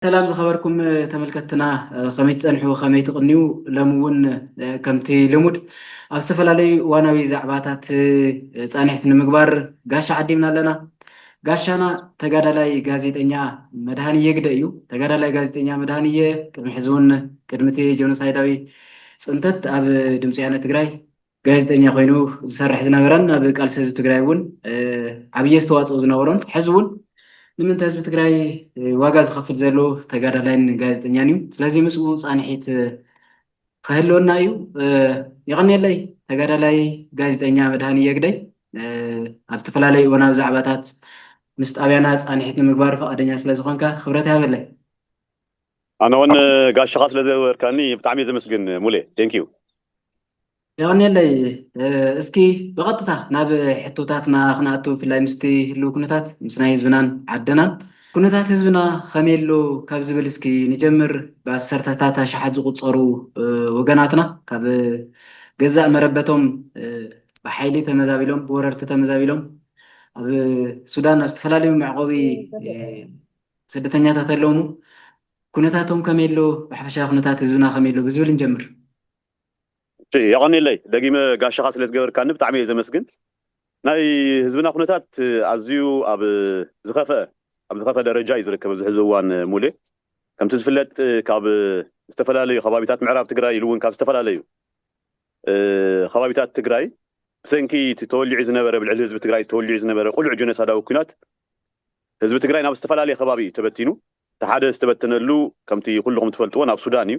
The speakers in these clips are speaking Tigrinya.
ሰላም ዝኸበርኩም ተመልከትና ከመይ ትፀንሑ ከመይ ትቕንዩ ሎሚ እውን ከምቲ ልሙድ ኣብ ዝተፈላለዩ እዋናዊ ዛዕባታት ፃንሒት ንምግባር ጋሻ ዓዲምና ኣለና ጋሻና ተጋዳላይ ጋዜጠኛ መድሃንየ ግደ እዩ ተጋዳላይ ጋዜጠኛ መድሃንየ ቅድሚ ሕዚ እውን ቅድሚ እቲ ጆኖሳይዳዊ ፅንተት ኣብ ድምፂ ያነ ትግራይ ጋዜጠኛ ኮይኑ ዝሰርሕ ዝነበረን ኣብ ቃልሲ ህዝቢ ትግራይ እውን ዓብዪ ኣስተዋፅኦ ዝነበሮን ሕዚ እውን ንምንተ ህዝቢ ትግራይ ዋጋ ዝኸፍል ዘሎ ተጋዳላይን ጋዜጠኛን እዩ። ስለዚ ምስኡ ፃንሒት ክህልወና እዩ። የቐንየለይ ተጋዳላይ ጋዜጠኛ መድሃኒ የግደይ ኣብ ዝተፈላለዩ እዋናዊ ዛዕባታት ምስ ጣብያና ፃንሒት ንምግባር ፈቓደኛ ስለ ዝኾንካ ክብረት ይሃበለይ። ኣነ እውን ጋሻኻ ስለ ዘበርካኒ ብጣዕሚ እየ ዘመስግን ሙሌ ቴንኪዩ። የቀኔለይ እስኪ ብቀጥታ ናብ ሕቶታትና ክንኣቱ ብፍላይ ምስቲ ህልው ኩነታት ምስ ናይ ህዝብናን ዓድናን ኩነታት ህዝብና ከመይ ኣሎ ካብ ዝብል እስኪ ንጀምር ብኣሰርተታት ኣሽሓት ዝቁፀሩ ወገናትና ካብ ገዛእ መረበቶም ብሓይሊ ተመዛቢሎም ብወረርቲ ተመዛቢሎም ኣብ ሱዳን ኣብ ዝተፈላለዩ መዕቆቢ ስደተኛታት ኣለውሙ ኩነታቶም ከመይ ኣሎ ብሓፈሻ ኩነታት ህዝብና ከመይ ኣሎ ብዝብል ንጀምር እሺ የቐኔለይ ደጊመ ጋሻኻ ስለ ዝገበርካኒ ብጣዕሚ እየ ዘመስግን። ናይ ህዝብና ኩነታት ኣዝዩ ኣብ ዝኸፈኣ ኣብ ዝኸፈኣ ደረጃ እዩ ዝርከብ ኣብዚ ሕዚ እዋን ሙሌ። ከምቲ ዝፍለጥ ካብ ዝተፈላለዩ ከባቢታት ምዕራብ ትግራይ ኢሉ እውን ካብ ዝተፈላለዩ ከባቢታት ትግራይ ብሰንኪ እቲ ተወሊዑ ዝነበረ ኣብ ልዕሊ ህዝቢ ትግራይ ተወሊዑ ዝነበረ ቁሉዕ ጀኖሳዳዊ ኩናት ህዝቢ ትግራይ ናብ ዝተፈላለየ ከባቢ እዩ ተበቲኑ። እቲ ሓደ ዝተበተነሉ ከምቲ ኩልኹም ትፈልጥዎ ናብ ሱዳን እዩ።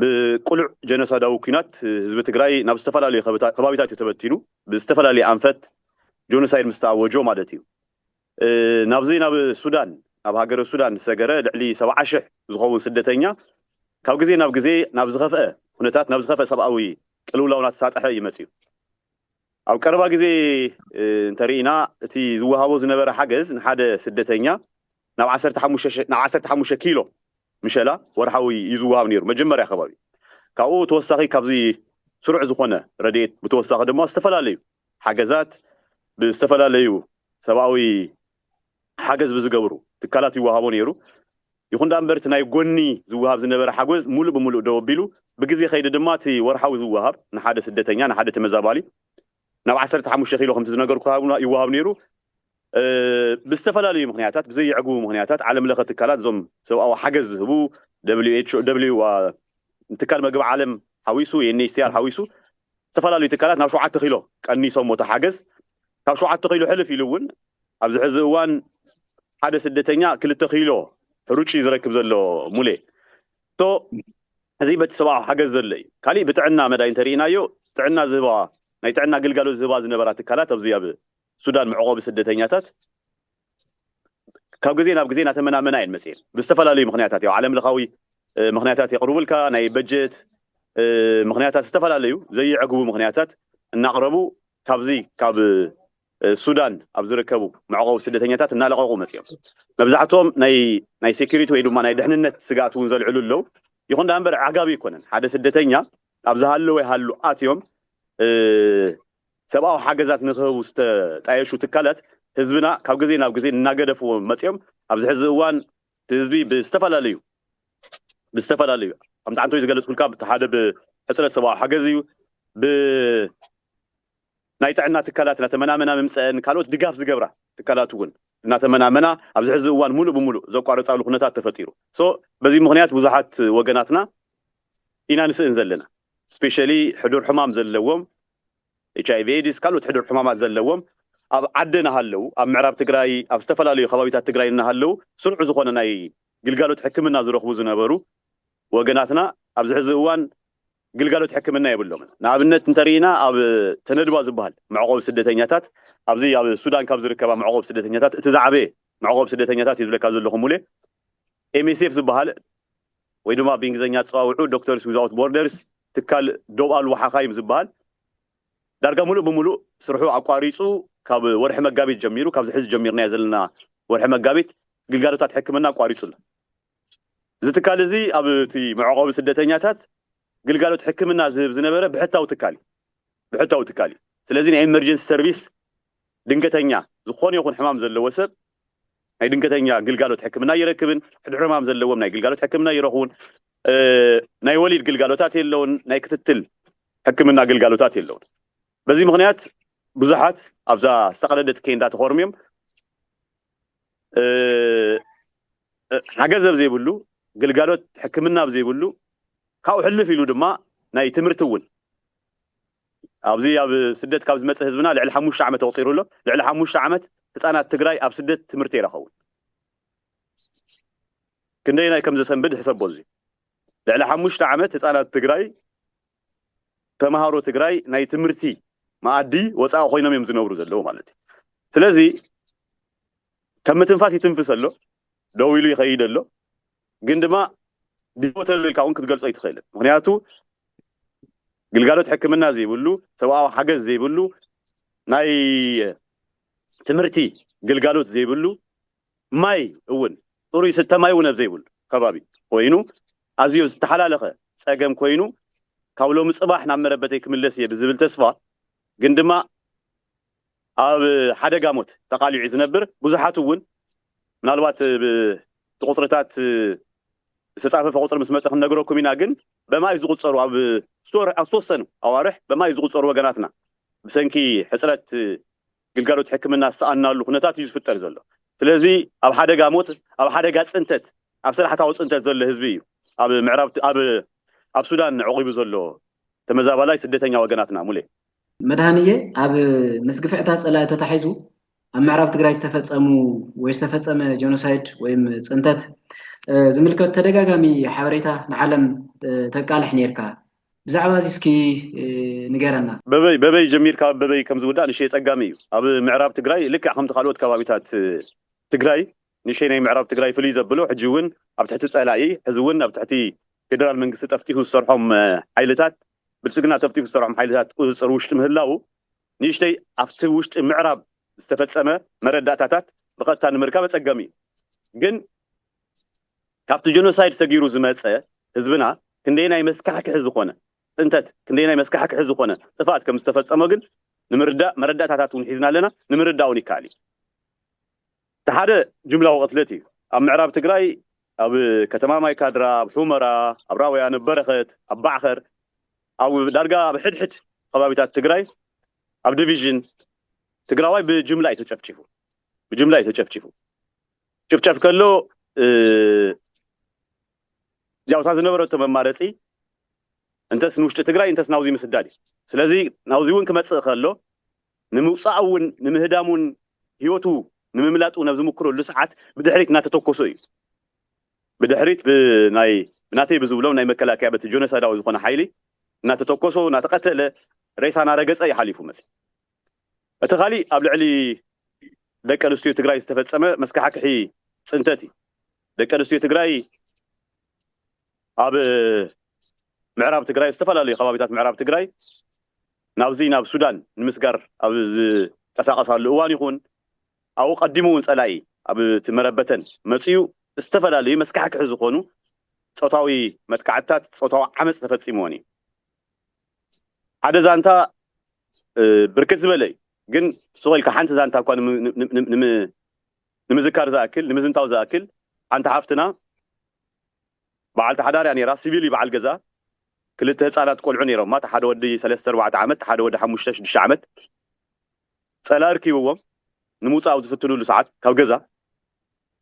ብቅሉዕ ጀኖሳዳዊ ኩናት ህዝቢ ትግራይ ናብ ዝተፈላለዩ ከባቢታት እዩ ተበቲኑ ብዝተፈላለየ ኣንፈት ጆኖሳይድ ምስ ተኣወጆ ማለት እዩ ናብዚ ናብ ሱዳን ናብ ሃገረ ሱዳን ዝሰገረ ልዕሊ ሰብዓ ሽሕ ዝኸውን ስደተኛ ካብ ግዜ ናብ ግዜ ናብ ዝኸፍአ ኩነታት ናብ ዝኸፍአ ሰብኣዊ ቅልውላው እናተሳጠሐ እዩ መፂኡ። ኣብ ቀረባ ግዜ እንተርኢና እቲ ዝወሃቦ ዝነበረ ሓገዝ ንሓደ ስደተኛ ናብ ዓሰርተ ሓሙሽተ ናብ ዓሰርተ ሓሙሽተ ኪሎ ምሸላ ወርሓዊ እዩ ዝወሃብ ነይሩ መጀመርያ ከባቢ ካብኡ ተወሳኺ ካብዚ ስሩዕ ዝኾነ ረድኤት ብተወሳኺ ድማ ዝተፈላለዩ ሓገዛት ብዝተፈላለዩ ሰብኣዊ ሓገዝ ብዝገብሩ ትካላት ይወሃቦ ነይሩ። ይኹን ደኣ እምበር እቲ ናይ ጎኒ ዝወሃብ ዝነበረ ሓጎዝ ሙሉእ ብሙሉእ ደው ኣቢሉ። ብግዜ ከይዲ ድማ እቲ ወርሓዊ ዝወሃብ ንሓደ ስደተኛ፣ ንሓደ ተመዛባሊ ናብ ዓሰርተ ሓሙሽተ ኪሎ ከምቲ ዝነገርኩኻ ይወሃብ ነይሩ። ብዝተፈላለዩ ምኽንያታት፣ ብዘየዕግቡ ምኽንያታት ዓለም ለኸ ትካላት እዞም ሰብኣዊ ሓገዝ ዝህቡ ትካል መግቢ ዓለም ሓዊሱ፣ UNHCR ሓዊሱ ዝተፈላለዩ ትካላት ናብ ሸውዓተ ኪሎ ቀኒሶሞ እቲ ሓገዝ። ካብ ሸውዓተ ኪሎ ሕልፍ ኢሉ እውን ኣብዚ ሕዚ እዋን ሓደ ስደተኛ ክልተ ኪሎ ሕሩጭ እዩ ዝረክብ ዘሎ ሙሌ ሶ እዚ በቲ ሰብኣዊ ሓገዝ ዘሎ እዩ ካሊእ ብጥዕና መዳይ እንተሪኢናዮ ጥዕና ዝህባ ናይ ጥዕና ግልጋሎት ዝህባ ዝነበራ ትካላት ኣብዚ ኣብ ሱዳን መዕቆቢ ስደተኛታት ካብ ግዜ ናብ ግዜ ናተመናመና እየን መጽኤን ብዝተፈላለዩ ምክንያታት ያው ዓለም ለኻዊ ምክንያታት የቅርቡልካ ናይ በጀት ምክንያታት ዝተፈላለዩ ዘይዕግቡ ምክንያታት እናቅረቡ ካብዚ ካብ ሱዳን ኣብ ዝርከቡ መዕቆቢ ስደተኛታት እናለቀቁ መጽኦም መብዛሕትኦም ናይ ናይ ሴኩሪቲ ወይ ድማ ናይ ድሕንነት ስጋት እውን ዘልዕሉ ኣለው ይኹን ዳ እምበር ኣዕጋቢ ኣይኮነን ሓደ ስደተኛ ኣብ ዝሃለወ ይሃሉ ኣትዮም ሰብኣዊ ሓገዛት ንክህቡ ዝተጣየሹ ትካላት ህዝብና ካብ ግዜ ናብ ግዜ እናገደፍዎ መፂኦም ኣብዚ ሕዚ እዋን እቲ ህዝቢ ብዝተፈላለዩ ብዝተፈላለዩ ከምቲ ዓንተወይ ዝገለፅኩልካ እቲ ሓደ ብሕፅረት ሰብኣዊ ሓገዝ እዩ ብናይ ጥዕና ትካላት እናተመናመና ምምፀአን ካልኦት ድጋፍ ዝገብራ ትካላት እውን እናተመናመና ኣብዚ ሕዚ እዋን ሙሉእ ብሙሉእ ዘቋርፃሉ ኩነታት ተፈጢሩ so በዚ ምክንያት ብዙሓት ወገናትና ኢና ንስእን ዘለና ስፔሻሊ ሕዱር ሕማም ዘለዎም ኤችኣይቪ ኤድስ ካልኦት ሕዱር ሕማማት ዘለዎም ኣብ ዓዲ ናሃለው ኣብ ምዕራብ ትግራይ ኣብ ዝተፈላለዩ ከባቢታት ትግራይ እናሃለው ስሩዕ ዝኾነ ናይ ግልጋሎት ሕክምና ዝረኽቡ ዝነበሩ ወገናትና ኣብዚ ሕዚ እዋን ግልጋሎት ሕክምና የብሎምን ንኣብነት እንተሪኢና ኣብ ተነድባ ዝባሃል መዕቖቢ ስደተኛታት ኣብዚ ኣብ ሱዳን ካብ ዝርከባ መዕቖቢ ስደተኛታት እቲ ዝዓበየ መዕቖቢ ስደተኛታት እየ ዝብለካ ዘለኹ ሙሌ ኤምኤስኤፍ ዝበሃል ወይ ድማ ብእንግሊዝኛ ኣፀዋውዕኡ ዶክተርስ ዊዝኣውት ቦርደርስ፣ ትካል ዶብ ኣልቦ ሓኻይም ዝበሃል፣ ዳርጋ ሙሉእ ብሙሉእ ስርሑ ኣቋሪፁ ካብ ወርሒ መጋቢት ጀሚሩ፣ ካብዚ ሕዚ ጀሚርናዮ ዘለና ወርሒ መጋቢት ግልጋሎታት ሕክምና ኣቋሪፁ ኣሎ። እዚ ትካል እዚ ኣብ እቲ መዕቖቢ ስደተኛታት ግልጋሎት ሕክምና ዝህብ ዝነበረ ብሕታዊ ትካል እዩ። ብሕታዊ ትካል እዩ። ስለዚ ናይ ኤመርጀንሲ ሰርቪስ ድንገተኛ ዝኾነ ይኹን ሕማም ዘለዎ ሰብ ናይ ድንገተኛ ግልጋሎት ሕክምና ኣይረክብን፣ ሕዱር ሕማም ዘለዎም ናይ ግልጋሎት ሕክምና ኣይረኽቡን፣ ናይ ወሊድ ግልጋሎታት የለውን፣ ናይ ክትትል ሕክምና ግልጋሎታት የለውን። በዚ ምኽንያት ብዙሓት ኣብዛ ዝተቐደደት ኬንዳ ተኾርምዮም ሓገዝ ኣብ ዘይብሉ፣ ግልጋሎት ሕክምና ኣብ ዘይብሉ ካብኡ ሕልፍ ኢሉ ድማ ናይ ትምህርቲ እውን ኣብዚ ኣብ ስደት ካብ ዝመጸ ህዝብና ልዕሊ ሓሙሽተ ዓመት ኣቑጺሩ ኣሎ። ልዕሊ ሓሙሽተ ዓመት ህጻናት ትግራይ ኣብ ስደት ትምህርቲ ኣይረኸቡን። ክንደየናይ ከም ዘሰንብድ ሕሰቦ እዚ። ልዕሊ ሓሙሽተ ዓመት ህጻናት ትግራይ ተማሃሮ ትግራይ ናይ ትምህርቲ መኣዲ ወጻኢ ኮይኖም እዮም ዝነብሩ ዘለዉ ማለት እዩ። ስለዚ ከም ምትንፋስ ይትንፍስ ኣሎ፣ ደው ኢሉ ይኸይድ ኣሎ። ግን ድማ ቢሞተሉ ኢልካ እውን ክትገልጾ ኣይትኽእልን ምክንያቱ ግልጋሎት ሕክምና ዘይብሉ ሰብኣዊ ሓገዝ ዘይብሉ ናይ ትምህርቲ ግልጋሎት ዘይብሉ ማይ እውን ጥሩ ይስተ ማይ እውን ኣብ ዘይብሉ ከባቢ ኮይኑ ኣዝዮ ዝተሓላለኸ ፀገም ኮይኑ ካብ ሎሚ ፅባሕ ናብ መረበተይ ክምለስ እየ ብዝብል ተስፋ ግን ድማ ኣብ ሓደጋ ሞት ተቓሊዑ'ዩ ዝነብር። ብዙሓት'ውን ምናልባት ብቲ ቁጽርታት ዝተጻፈፈ ቁጽሪ ምስ መጸ ክንነግረኩም ኢና ግን በማኢት ዝቑጸሩ ኣብ ዝተወሰኑ ኣዋርሕ በማኢት ዝቑጸሩ ወገናትና ብሰንኪ ሕጽረት ግልጋሎት ሕክምና ዝሰኣንናሉ ኩነታት እዩ ዝፍጠር ዘሎ። ስለዚ ኣብ ሓደጋ ሞት ኣብ ሓደጋ ጽንተት ኣብ ስራሕታዊ ጽንተት ዘሎ ህዝቢ እዩ ኣብ ምዕራብ ኣብ ሱዳን ዑቚቡ ዘሎ ተመዛባላይ ስደተኛ ወገናትና ሙሌ። መድሃንየ ኣብ ምስ ግፍዕታት ፀላኢ ተታሒዙ ኣብ ምዕራብ ትግራይ ዝተፈፀሙ ወይ ዝተፈፀመ ጀኖሳይድ ወይም ፅንተት ዝምልከት ተደጋጋሚ ሓበሬታ ንዓለም ተቃልሕ ነይርካ ብዛዕባ እዚ እስኪ ንገረና። በበይ በበይ ጀሚርካ ኣብ በበይ ከምዝውዳእ ንእሽተይ ፀጋሚ እዩ። ኣብ ምዕራብ ትግራይ ልክዕ ከምቲ ካልኦት ከባቢታት ትግራይ ንእሽተይ ናይ ምዕራብ ትግራይ ፍልይ ዘብሎ ሕጂ እውን ኣብ ትሕቲ ፀላኢ ሕዚ እውን ኣብ ትሕቲ ፌደራል መንግስቲ ጠፍጢፉ ዝሰርሖም ሓይልታት ብልፅግና ጠፍጢፉ ዝሰርሖም ሓይልታት ቁፅፅር ውሽጢ ምህላዉ ንእሽተይ ኣብቲ ውሽጢ ምዕራብ ዝተፈፀመ መረዳእታታት ብቐጥታ ንምርካብ ኣፀጋሚ እዩ ግን ካብቲ ጀኖሳይድ ሰጊሩ ዝመፀ ህዝብና ክንደየናይ መስካሕክሒ ዝኾነ ፅንተት ክንደየናይ መስካሕክሒ ዝኾነ ጥፍኣት ከምዝተፈፀሞ ግን ንምርዳእ መረዳእታታት እውን ሒዝና ኣለና ንምርዳእ እውን ይከኣል እዩ። እቲ ሓደ ጅምላዊ ቅትለት እዩ። ኣብ ምዕራብ ትግራይ ኣብ ከተማ ማይ ካድራ፣ ኣብ ሑመራ፣ ኣብ ራውያን፣ ኣብ በረኸት፣ ኣብ ባዕኸር፣ ኣብ ዳርጋ ኣብ ሕድሕድ ኸባቢታት ትግራይ ኣብ ዲቪዥን ትግራዋይ ብጅምላ እዩ ተጨፍጪፉ። ብጅምላ እዩ ተጨፍጪፉ። ጭፍጨፍ ከሎ ያውታ ዝነበረቶ መማረፂ እንተስ ንውሽጢ ትግራይ እንተስ ናውዚ ምስዳድ እዩ። ስለዚ ናውዚ እውን ክመፅእ ከሎ ንምውጻእ እውን ንምህዳሙን ህይወቱ ንምምላጥ እውን ኣብ ዝምኩረሉ ሰዓት ብድሕሪት እናተተኮሶ እዩ ብድሕሪት ብናይ ናተይ ብዝብሎም ናይ መከላከያ በቲ ጆኖሳይዳዊ ዝኾነ ሓይሊ እናተተኮሶ እናተቐተለ ሬሳ እናረገጸ እዩ ሓሊፉ መጺኡ እቲ ካሊእ ኣብ ልዕሊ ደቂ ኣንስትዮ ትግራይ ዝተፈጸመ መስካሕክሒ ጽንተት እዩ ደቂ ኣንስትዮ ትግራይ ኣብ ምዕራብ ትግራይ ኣብ ዝተፈላለዩ ከባቢታት ምዕራብ ትግራይ ናብዚ ናብ ሱዳን ንምስጋር ኣብ ዝቀሳቀሳሉ እዋን ይኹን ኣብኡ ቀዲሙ እውን ፀላኢ ኣብ እቲ መረበተን መፂኡ ዝተፈላለዩ መስካሕክሒ ዝኾኑ ፆታዊ መጥቃዕትታት ፆታዊ ዓመፅ ተፈፂምወን እዩ። ሓደ ዛንታ ብርክት ዝበለ እዩ ግን ሱቕ ኢልካ ሓንቲ ዛንታ እኳ ንምዝካር ዝኣክል ንምዝንታው ዝኣክል ሓንቲ ሓፍትና በዓልቲ ሓዳር እያ ነይራ፣ ሲቪል እዩ በዓል ገዝኣ፣ ክልተ ህጻናት ቆልዑ ነይሮማ፣ እቲ ሓደ ወዲ ሰለስተ ኣርባዕተ ዓመት፣ እቲ ሓደ ወዲ ሓሙሽተ ሽዱሽተ ዓመት፣ ጸላኢ ርኪብዎም ንምውጻእ ኣብ ዝፍትንሉ ሰዓት ካብ ገዛ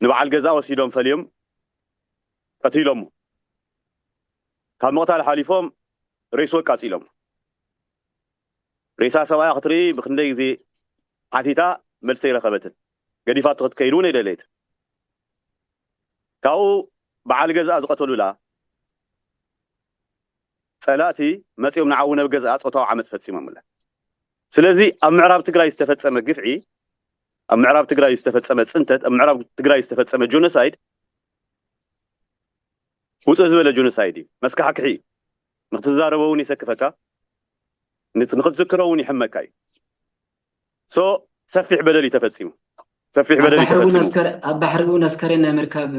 ንበዓል ገዝኣ ወሲዶም ፈልዮም ቀቲሎሞ፣ ካብ ምቕታል ሓሊፎም ሬስኡ ኣቃጺሎሞ። ሬሳ ሰብኣያ ክትርኢ ብኽንደይ ግዜ ሓቲታ መልሲ ኣይረኸበትን። ገዲፋቶ ክትከይድ እውን ኣይደለየትን። ካብኡ በዓል ገዝኣ ዝቐተሉላ ፀላእቲ መፂኦም ንዓኡ ነብ ገዝኣ ፆታዊ ዓመፅ ፈፂሞምላ። ስለዚ ኣብ ምዕራብ ትግራይ ዝተፈፀመ ግፍዒ፣ ኣብ ምዕራብ ትግራይ ዝተፈፀመ ፅንተት፣ ኣብ ምዕራብ ትግራይ ዝተፈፀመ ጆኖሳይድ ውፅእ ዝበለ ጆኖሳይድ እዩ። መስካሕክሒ እዩ። ንክትዛረቦ ውን የሰክፈካ ንክትዝክሮ ውን ይሕመካ እዩ so ሰፊሕ በደል እዩ ተፈፂሙ ሰፊሕ በደል እዩ ተፈፂሙ ኣብ ባሕሪ ውን ኣስከሬን ናይ ምርካብ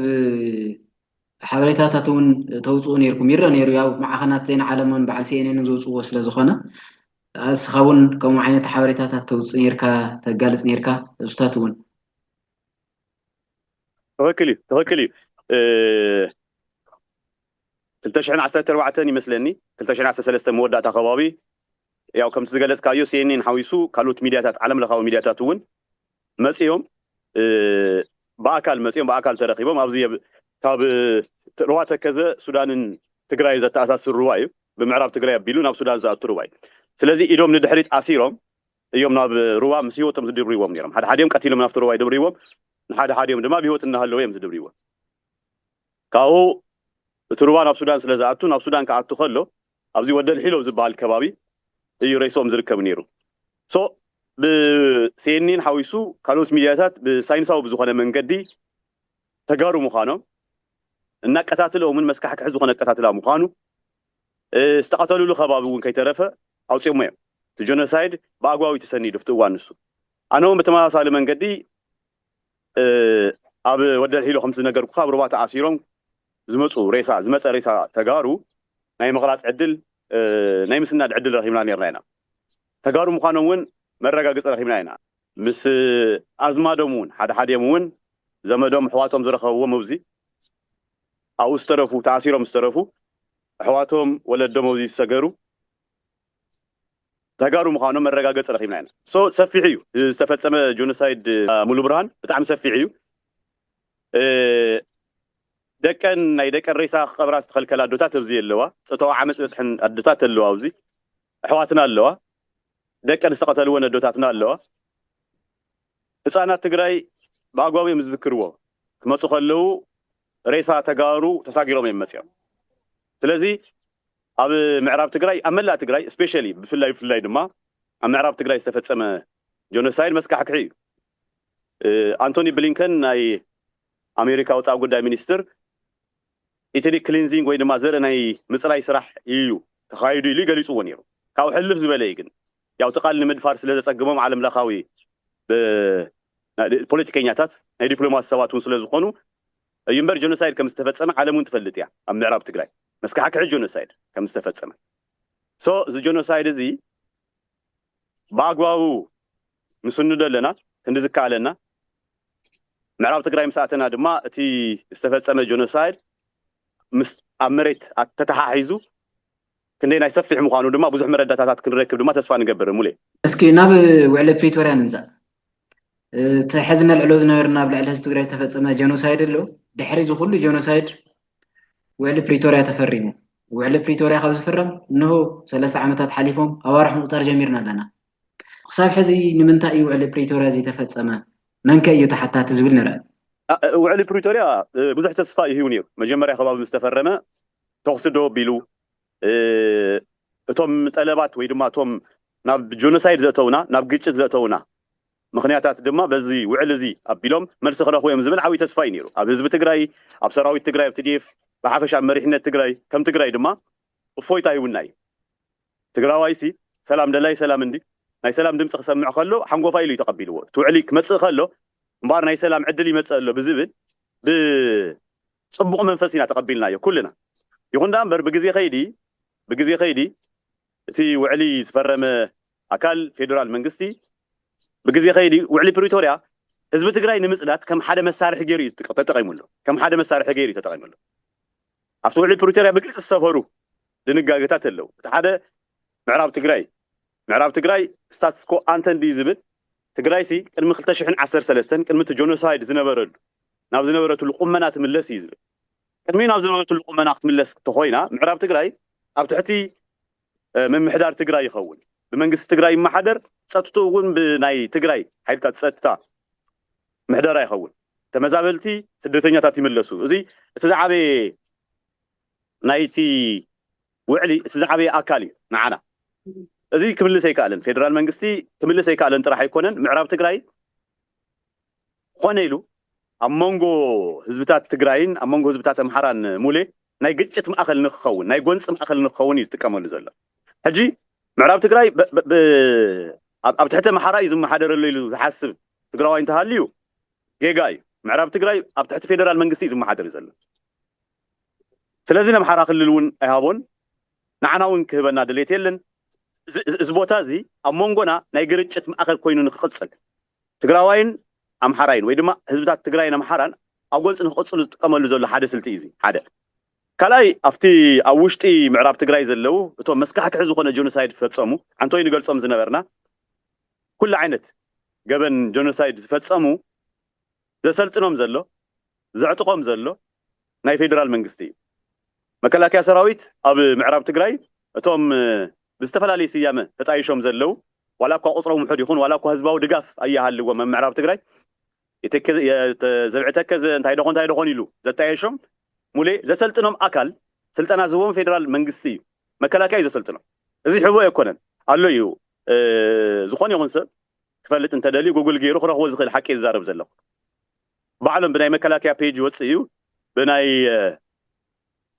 ሓበሬታታት እውን ተውፅኡ ነይርኩም ይረ ነይሩ ያው ማዕኸናት ዜና ዓለም እውን በዓል ሲኤንኤን ዘውፅዎ ስለ ዝኾነ እስኻ እውን ከምኡ ዓይነት ሓበሬታታት ተውፅእ ነርካ ተጋልፅ ነርካ እሱታት እውን ትኽክል እዩ ትኽክል እዩ ክልተ ሽሕን ዓሰርተ ኣርባዕተን ይመስለኒ ክልተ ሽሕን ዓሰርተ ሰለስተ መወዳእታ ከባቢ ያው ከምቲ ዝገለጽካዮ ሲኤንኤን ሓዊሱ ካልኦት ሚድያታት ዓለም ለኻዊ ሚድያታት እውን መጺኦም ብኣካል መጺኦም ብኣካል ተረኺቦም ኣብዚ ካብ ሩባ ተከዘ ሱዳንን ትግራይን ዘተኣሳስር ሩባ እዩ ብምዕራብ ትግራይ ኣቢሉ ናብ ሱዳን ዝኣቱ ሩባ እዩ ስለዚ ኢዶም ንድሕሪት ኣሲሮም እዮም ናብ ሩባ ምስ ህይወቶም ዝድብርዎም ነይሮም ሓደ ሓዲኦም ቀቲሎም ናብቲ ሩባ ይድብርዎም ንሓደ ሓዲኦም ድማ ብህይወት እናሃለወ እዮም ዝድብርዎም ካብኡ እቲ ሩባ ናብ ሱዳን ስለ ዝኣቱ ናብ ሱዳን ክኣቱ ከሎ ኣብዚ ወደል ሒሎ ኣብ ዝብሃል ከባቢ እዩ ሬስኦም ዝርከብ ኔሩ so ብ cnn ሓዊሱ ካልኦት ሚድያታት ብ ሳይንሳዊ ብዝኾነ መንገዲ ተጋሩ ምዃኖም እናቀታትለኦምን መስካሕክሒ ዝኾነ ኣቀታትላ ምዃኑ ዝተቐተልሉ ከባቢ እውን ከይተረፈ ኣውፂኦሞ እዮም እቲ ጆነሳይድ ብኣግባቡ እዩ ተሰኒዱ ኣብቲ እዋን ንሱ ኣነ እውን ብተመሳሳሊ መንገዲ ኣብ ወደልሒሎ ከምቲ ዝነገርኩኻ ኣብ ሩባ ተኣሲሮም ዝመጹ ሬሳ ዝመጸ ሬሳ ተጋሩ ናይ ምቕራጽ ዕድል ናይ ምስናድ ዕድል ረኺብና ኔርና ኢና። ተጋሩ ምዃኖም እውን መረጋግጺ ረኺብና ኢና። ምስ ኣዝማዶም እውን ሓደ ሓዲኦም እውን ዘመዶም ኣሕዋቶም ዝረኸብዎም ኣብ'ዚ ኣብኡ ዝተረፉ ተኣሲሮም ዝተረፉ ኣሕዋቶም ወለዶም ኣብ'ዚ ዝሰገሩ ተጋሩ ምኻኖም መረጋገፂ ረኺብና ኢና so ሰፊሕ እዩ ዝተፈፀመ ጆኖሳይድ ሙሉብርሃን ብጣዕሚ ሰፊሕ እዩ ደቀን ናይ ደቀን ሬሳ ክቐብራ ዝተኸልከላ ኣዶታት ኣብዚ የለዋ ፆታዊ ዓመፅ ዝበፅሐን ኣዶታት ኣለዋ ኣብዚ ኣሕዋትና ኣለዋ ደቀን ዝተቐተልወን ኣዶታትና ኣለዋ ህፃናት ትግራይ ብኣግባቡ እዮም ዝዝክርዎ ክመፁ ከለዉ ሬሳ ተጋሩ ተሳጊሮም እዮም መፅኦም ስለዚ ኣብ ምዕራብ ትግራይ ኣብ መላእ ትግራይ ስፔሸሊ ብፍላይ ብፍላይ ድማ ኣብ ምዕራብ ትግራይ ዝተፈፀመ ጆኖሳይድ መስካሕክሒ እዩ። ኣንቶኒ ብሊንከን ናይ ኣሜሪካ ወፃኢ ጉዳይ ሚኒስትር ኢትኒክ ክሊንዚንግ ወይ ድማ ዘርኢ ናይ ምፅራይ ስራሕ እዩ ተኻይዱ ኢሉ ገሊፅዎ ነይሩ። ካብኡ ሕልፍ ዝበለ እዩ ግን ያው እቲ ቃል ንምድፋር ስለዘፀግሞም ዓለም ለኻዊ ፖለቲከኛታት ናይ ዲፕሎማሲ ሰባት እውን ስለዝኾኑ እዩ እምበር ጆኖሳይድ ከም ዝተፈጸመ ዓለም ውን ትፈልጥ እያ ኣብ ምዕራብ ትግራይ መስካሕክሒ ጆኖሳይድ ከም ዝተፈጸመ so እዚ ጆኖሳይድ እዚ ብኣግባቡ ንስንዶ ኣለና ክንዲ ዝከኣለና ምዕራብ ትግራይ ምስ ኣተና ድማ እቲ ዝተፈጸመ ጆኖሳይድ ምስ ኣብ መሬት ተተሓሒዙ ክንደየናይ ሰፊሕ ምዃኑ ድማ ብዙሕ መረዳታታት ክንረክብ ድማ ተስፋ ንገብር። ሙሌ። እስኪ ናብ ውዕሊ ፕሪቶርያ ንምፃእ። እቲ ሕዚ ነልዕሎ ዝነበርና ኣብ ልዕሊ ህዝቢ ትግራይ ዝተፈፀመ ጀኖሳይድ ኣሎ። ድሕሪ እዚ ኩሉ ጀኖሳይድ ውዕሊ ፕሪቶርያ ተፈሪሙ። ውዕሊ ፕሪቶርያ ካብ ዝፍረም እንሆ ሰለስተ ዓመታት ሓሊፎም ኣዋርሕ ምቑፃር ጀሚርና ኣለና። ክሳብ ሕዚ ንምንታይ እዩ ውዕሊ ፕሪቶርያ ዘይተፈፀመ? መንከ እዩ ተሓታቲ ዝብል ንርኣ። ውዕሊ ፕሪቶርያ ብዙሕ ተስፋ እዩ ሂቡ ነይሩ። መጀመርያ ከባቢ ምስ ተፈረመ ተኹሲ ደው ኣቢሉ እቶም ጠለባት ወይ ድማ እቶም ናብ ጆኖሳይድ ዘእተዉና፣ ናብ ግጭት ዘእተዉና ምኽንያታት ድማ በዚ ውዕል እዚ ኣቢሎም መልሲ ክረኽቡ እዮም ዝብል ዓብዪ ተስፋ እዩ ነይሩ ኣብ ህዝቢ ትግራይ፣ ኣብ ሰራዊት ትግራይ፣ ኣብ tdf፣ ብሓፈሻ ኣብ መሪሕነት ትግራይ፣ ከም ትግራይ ድማ እፎይታ ሂቡና እዩ። ትግራዋይሲ ሰላም ደላይ ሰላም እንዲ ናይ ሰላም ድምፂ ክሰምዕ ከሎ ሓንጎፋይ ኢሉ እዩ ተቐቢልዎ። እቲ ውዕሊ ክመፅእ ከሎ እምበኣር ናይ ሰላም ዕድል ይመፅእ ኣሎ ብዝብል ብ ጽቡቕ መንፈስ ኢና ተቐቢልናዮ ኩልና። ይኹን ደኣ እምበር ብግዜ ከይዲ ብግዜ ከይዲ እቲ ውዕሊ ዝፈረመ ኣካል ፌደራል መንግስቲ ብግዜ ከይዲ ውዕሊ ፕሪቶርያ ህዝቢ ትግራይ ንምጽዳት ከም ሓደ መሳርሒ ገይሩ እዩ ተጠቂምሉ ከም ሓደ መሳርሒ ገይሩ እዩ ተጠቂምሉ። ኣብቲ ውዕሊ ፕሪቶርያ ብግልፂ ዝሰፈሩ ድንጋገታት ኣለዉ። እቲ ሓደ ምዕራብ ትግራይ ምዕራብ ትግራይ ስታትስኮ ኣንተ እንድዩ ዝብል ትግራይሲ ቅድሚ ክልተ ሽሕን ዓሰርተ ሰለስተን ቅድሚ እቲ ጆኖሳይድ ዝነበረሉ ናብ ዝነበረትሉ ቁመና ትምለስ እዩ ዝብል ቅድሚ ናብ ዝነበረትሉ ቁመና ክትምለስ ተኾይና ምዕራብ ትግራይ ኣብ ትሕቲ ምምሕዳር ትግራይ ይኸውን ብመንግስቲ ትግራይ ይመሓደር ፀጥትኡ እውን ብናይ ትግራይ ሓይልታት ፀጥታ ምሕደራ ይኸውን ተመዛበልቲ ስደተኛታት ይምለሱ እዚ እቲ ዝዓበየ ናይቲ ውዕሊ እቲ ዝዓበየ ኣካል እዩ ንዓና። እዚ ክምልስ ኣይክኣልን። ፌደራል መንግስቲ ክምልስ ኣይክኣለን ጥራሕ ኣይኮነን፣ ምዕራብ ትግራይ ኾነ ኢሉ ኣብ መንጎ ህዝብታት ትግራይን ኣብ መንጎ ህዝብታት ኣምሓራን ሙሌ ናይ ግጭት ማእኸል ንክኸውን፣ ናይ ጎንፂ ማእኸል ንክኸውን እዩ ዝጥቀመሉ ዘሎ። ሕጂ ምዕራብ ትግራይ ኣብ ትሕቲ ኣምሓራ እዩ ዝመሓደረሉ ኢሉ ዝሓስብ ትግራዋይ እንተሃልዩ ጌጋ እዩ። ምዕራብ ትግራይ ኣብ ትሕቲ ፌደራል መንግስቲ እዩ ዝመሓደር ዘሎ። ስለዚ ነምሓራ ክልል እውን ኣይሃቦን ንዓና እውን ክህበና ድሌት የለን እዚ ቦታ እዚ ኣብ ሞንጎና ናይ ግርጭት ማእኸል ኮይኑ ንክቅፅል ትግራዋይን ኣምሓራይን ወይ ድማ ህዝብታት ትግራይን ኣምሓራን ኣብ ጎንፂ ንክቅፅሉ ዝጥቀመሉ ዘሎ ሓደ ስልቲ እዩ እዚ ሓደ ካልኣይ ኣብቲ ኣብ ውሽጢ ምዕራብ ትግራይ ዘለው እቶም መስካሕክሒ ዝኾነ ጆኖሳይድ ፈፀሙ ዓንቶይ ንገልፆም ዝነበርና ኩሉ ዓይነት ገበን ጆኖሳይድ ዝፈፀሙ ዘሰልጥኖም ዘሎ፣ ዘዕጥቖም ዘሎ ናይ ፌደራል መንግስቲ እዩ። መከላከያ ሰራዊት ኣብ ምዕራብ ትግራይ እቶም ብዝተፈላለየ ስያመ ተጣይሾም ዘለው ዋላ እኳ ቁፅሮም ውሑድ ይኹን ዋላ እኳ ህዝባዊ ድጋፍ ኣይሃልዎም ኣብ ምዕራብ ትግራይ ዘብዒ ተከዘ እንታይ ደኾን እንታይ ደኾን ኢሉ ዘጣየሾም ሙሌ ዘሰልጥኖም ኣካል ስልጠና ዝህቦም ፌደራል መንግስቲ እዩ። መከላከያ እዩ ዘሰልጥኖም። እዚ ሕቦ ኣይኮነን ኣሎ እዩ ዝኾነ ይኹን ሰብ ክፈልጥ እንተደልዩ ጉግል ጌሩ ክረኽቦ ዝኽእል ሓቂ እየ ዝዛረብ ዘለኹ። ባዕሎም ብናይ መከላከያ ፔጅ ይወጽእ እዩ ብናይ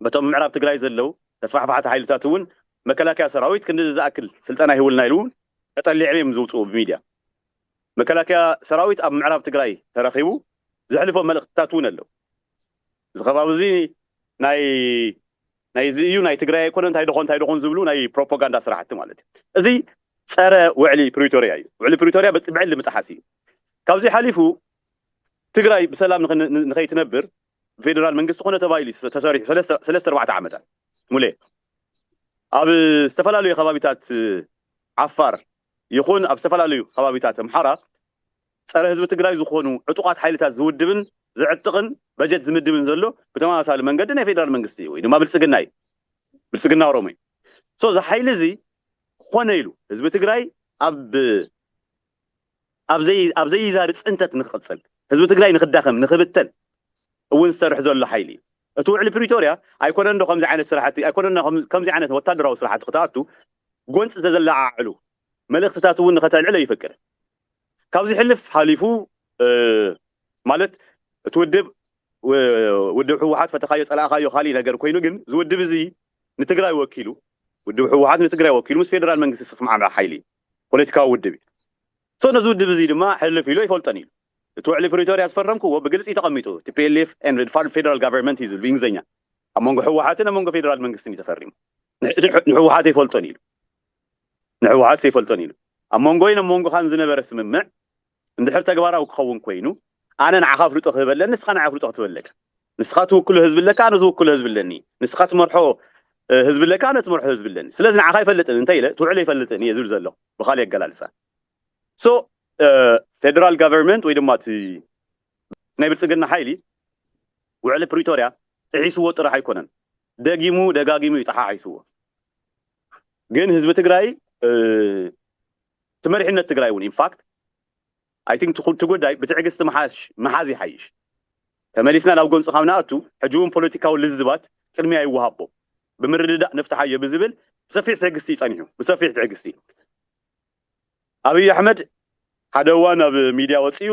በቶም ምዕራብ ትግራይ ዘለው ተስፋሕፋሕቲ ሓይልታት እውን መከላከያ ሰራዊት ክንድዚ ዝኣክል ስልጠና ይህቡልና ኢሉ እውን ተጠሊዕም እዮም ዝውፅኡ ብሚድያ መከላከያ ሰራዊት ኣብ ምዕራብ ትግራይ ተረኺቡ ዘሕልፎ መልእኽትታት እውን ኣለው። እዚ ከባቢ እዚ ናይ ናይ እዚ እዩ ናይ ትግራይ ኣይኮነን እንታይ ዶኾን እንታይ ዶኾን ዝብሉ ናይ ፕሮፖጋንዳ ስራሕቲ ማለት እዩ። እዚ ፀረ ውዕሊ ፕሪቶሪያ እዩ። ውዕሊ ፕሪቶሪያ ብዕሊ ምጥሓስ እዩ። ካብዙይ ሓሊፉ ትግራይ ብሰላም ንኸይትነብር ብፌደራል መንግስቲ ኮነ ተባሂሉ እዩ ተሰሪሑ ሰለስተ ኣርባዕተ ዓመታት ሙሌ ኣብ ዝተፈላለዩ ከባቢታት ዓፋር ይኹን ኣብ ዝተፈላለዩ ከባቢታት ኣምሓራ ፀረ ህዝቢ ትግራይ ዝኾኑ ዕጡቓት ሓይልታት ዝውድብን ዝዕጥቕን በጀት ዝምድብን ዘሎ ብተመሳሳሊ መንገዲ ናይ ፌዴራል መንግስቲ እዩ ወይ ድማ ብልፅግና እዩ። ብልፅግና ኦሮሞ እዩ። ሶ እዚ ሓይሊ እዚ ኾነ ኢሉ ህዝቢ ትግራይ ኣብ ኣብ ዘይዛሪ ፅንተት ንክቕፅል፣ ህዝቢ ትግራይ ንክዳኸም፣ ንክብተን እውን ዝሰርሕ ዘሎ ሓይሊ እዩ። እቲ ውዕሊ ፕሪቶርያ ኣይኮነን ዶ ከምዚ ዓይነት ስራሕቲ ኣይኮነን ዶ ከምዚ ዓይነት ወታደራዊ ስራሕቲ ክትኣቱ ጎንፂ ዘዘለዓዕሉ መልእኽትታት እውን ንከተልዕል ኣይፈቅድን። ካብ ዝሕልፍ ሓሊፉ ማለት እቲ ውድብ ውድብ ህወሓት ፈተኻዮ ፀላእኻዮ ካሊእ ነገር ኮይኑ ግን እዚ ውድብ እዚ ንትግራይ ወኪሉ ውድብ ህወሓት ንትግራይ ወኪሉ ምስ ፌደራል መንግስቲ ዝተስማዕምዐ ሓይሊ እዩ ፖለቲካዊ ውድብ እዩ ሶ ነዚ ውድብ እዚ ድማ ሕልፍ ኢሉ ኣይፈልጦን እዩ እቲ ውዕሊ ፕሪቶሪያ ዝፈረምክዎ ብግልፂ ተቐሚጡ ቲፒኤልኤፍ ኤንድ ፌደራል ጋቨርንመንት እዩ ዝብል ብእንግሊዝኛ ኣብ መንጎ ህወሓትን ኣብ መንጎ ፌደራል መንግስትን እዩ ተፈሪሙ ንህወሓት ኣይፈልጦን ኢሉ ንህወሓት ዘይፈልጦን ኢሉ። ኣብ መንጎይን ኣብ መንጎኻን ዝነበረ ስምምዕ እንድሕር ተግባራዊ ክኸውን ኮይኑ ኣነ ንዓኻ ኣፍልጦ ክህብ ኣለኒ ንስኻ ንዓይ ኣፍልጦ ክትህበኒ ኣለካ። ንስኻ ትውክሎ ህዝቢ ኣለካ ኣነ ዝውክሎ ህዝቢ ኣለኒ። ንስኻ ትመርሖ ህዝቢ ኣለካ ኣነ ትመርሖ ህዝቢ ኣለኒ። ስለዚ ንዓኻ ኣይፈልጥን እንተ ኢለ ትውዕል ኣይፈልጥን እየ ዝብል ዘለኹ ብኻሊእ ኣገላልፃ። So ፌደራል ጋቨርመንት ወይ ድማ እቲ ናይ ብልፅግና ሓይሊ ውዕሊ ፕሪቶርያ ጥሒስዎ ጥራሕ ኣይኮነን ደጊሙ ደጋጊሙ እዩ ጠሓሒስዎ። ግን ህዝቢ ትግራይ እቲ መሪሕነት ትግራይ እውን ኢንፋክት ኣይ ቲንክ እቲ ጉዳይ ብትዕግስቲ ምሓዝ ይሓይሽ ተመሊስና ናብ ጎንፂ ካብ ንኣቱ ሕጂ እውን ፖለቲካዊ ልዝባት ቅድሚያ ይወሃቦ ብምርድዳእ ንፍትሓዮ ብዝብል ብሰፊሕ ትዕግስቲ እዩ ፀኒሑ ብሰፊሕ ትዕግስቲ ኣብይ ኣሕመድ ሓደ እዋን ኣብ ሚድያ ወፂኡ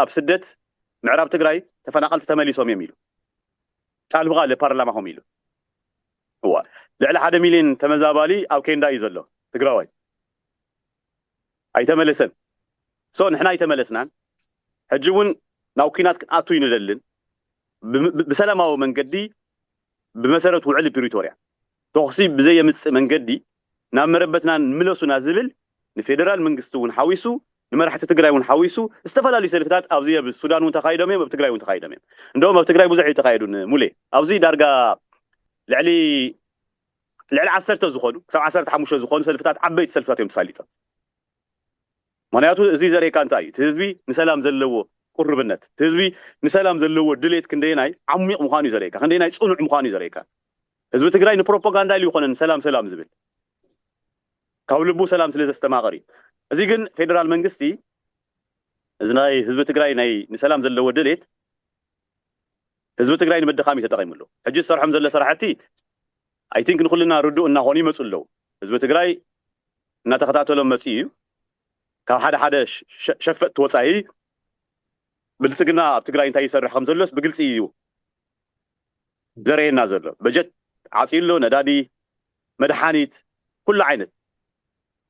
ኣብ ስደት ምዕራብ ትግራይ ተፈናቀልቲ ተመሊሶም እዮም ኢሉ ቃል ብቃል ፓርላማኹም ኢሉ እዋይ ልዕሊ ሓደ ሚልዮን ተመዛባሊ ኣብ ኬንዳ እዩ ዘሎ ትግራዋይ ኣይተመለሰን so ንሕና ኣይተመለስናን ሕጂ እውን ናብ ኩናት ክንኣቱ ኣይንደልን ብሰላማዊ መንገዲ ብመሰረት ውዕሊ ፕሪቶርያ ተኹሲ ብዘየምፅእ መንገዲ ናብ መረበትና ምለሱና ዝብል ንፌደራል መንግስቲ እውን ሓዊሱ ንመራሕቲ ትግራይ እውን ሓዊሱ ዝተፈላለዩ ሰልፍታት ኣብዚ ኣብ ሱዳን እውን ተኻይዶም እዮም ኣብ ትግራይ እውን ተኻይዶም እዮም እንደውም ኣብ ትግራይ ብዙሕ ኣይተኻየዱን ሙሌ ኣብዚ ዳርጋ ልዕሊ ልዕሊ ዓሰርተ ዝኾኑ ክሳብ ዓሰርተ ሓሙሽተ ዝኾኑ ሰልፍታት ዓበይቲ ሰልፍታት እዮም ተሳሊጦም ምኽንያቱ እዚ ዘርእየካ እንታይ እዩ እቲ ህዝቢ ንሰላም ዘለዎ ቁርብነት እቲ ህዝቢ ንሰላም ዘለዎ ድሌት ክንደየናይ ዓሚቕ ምዃኑ እዩ ዘርእየካ ክንደየናይ ጽኑዕ ምዃኑ እዩ ዘርእየካ ህዝቢ ትግራይ ንፕሮፓጋንዳ ኢሉ ይኾነን ሰላም ሰላም ዝብል ካብ ልቡ ሰላም ስለ ዘስተማቕር እዩ እዚ ግን ፌደራል መንግስቲ እዚ ናይ ህዝቢ ትግራይ ናይ ንሰላም ዘለዎ ድሌት ህዝቢ ትግራይ ንምድኻም እዩ ተጠቒሙሉ ሕጂ ዝሰርሖም ዘሎ ስራሕቲ I think ንኹልና ርዱእ እናኾኑ ይመፁ ኣለው። ህዝቢ ትግራይ እናተኸታተሎም መፂኡ እዩ። ካብ ሓደ ሓደ ሸፈጥቲ ወፃኢ ብልፅግና ኣብ ትግራይ እንታይ ይሰርሕ ከምዘሎስ ብግልፂ እዩ ዘርእየና ዘሎ። በጀት ዓፅዩ ኣሎ፣ ነዳዲ፣ መድሓኒት፣ ኩሉ ዓይነት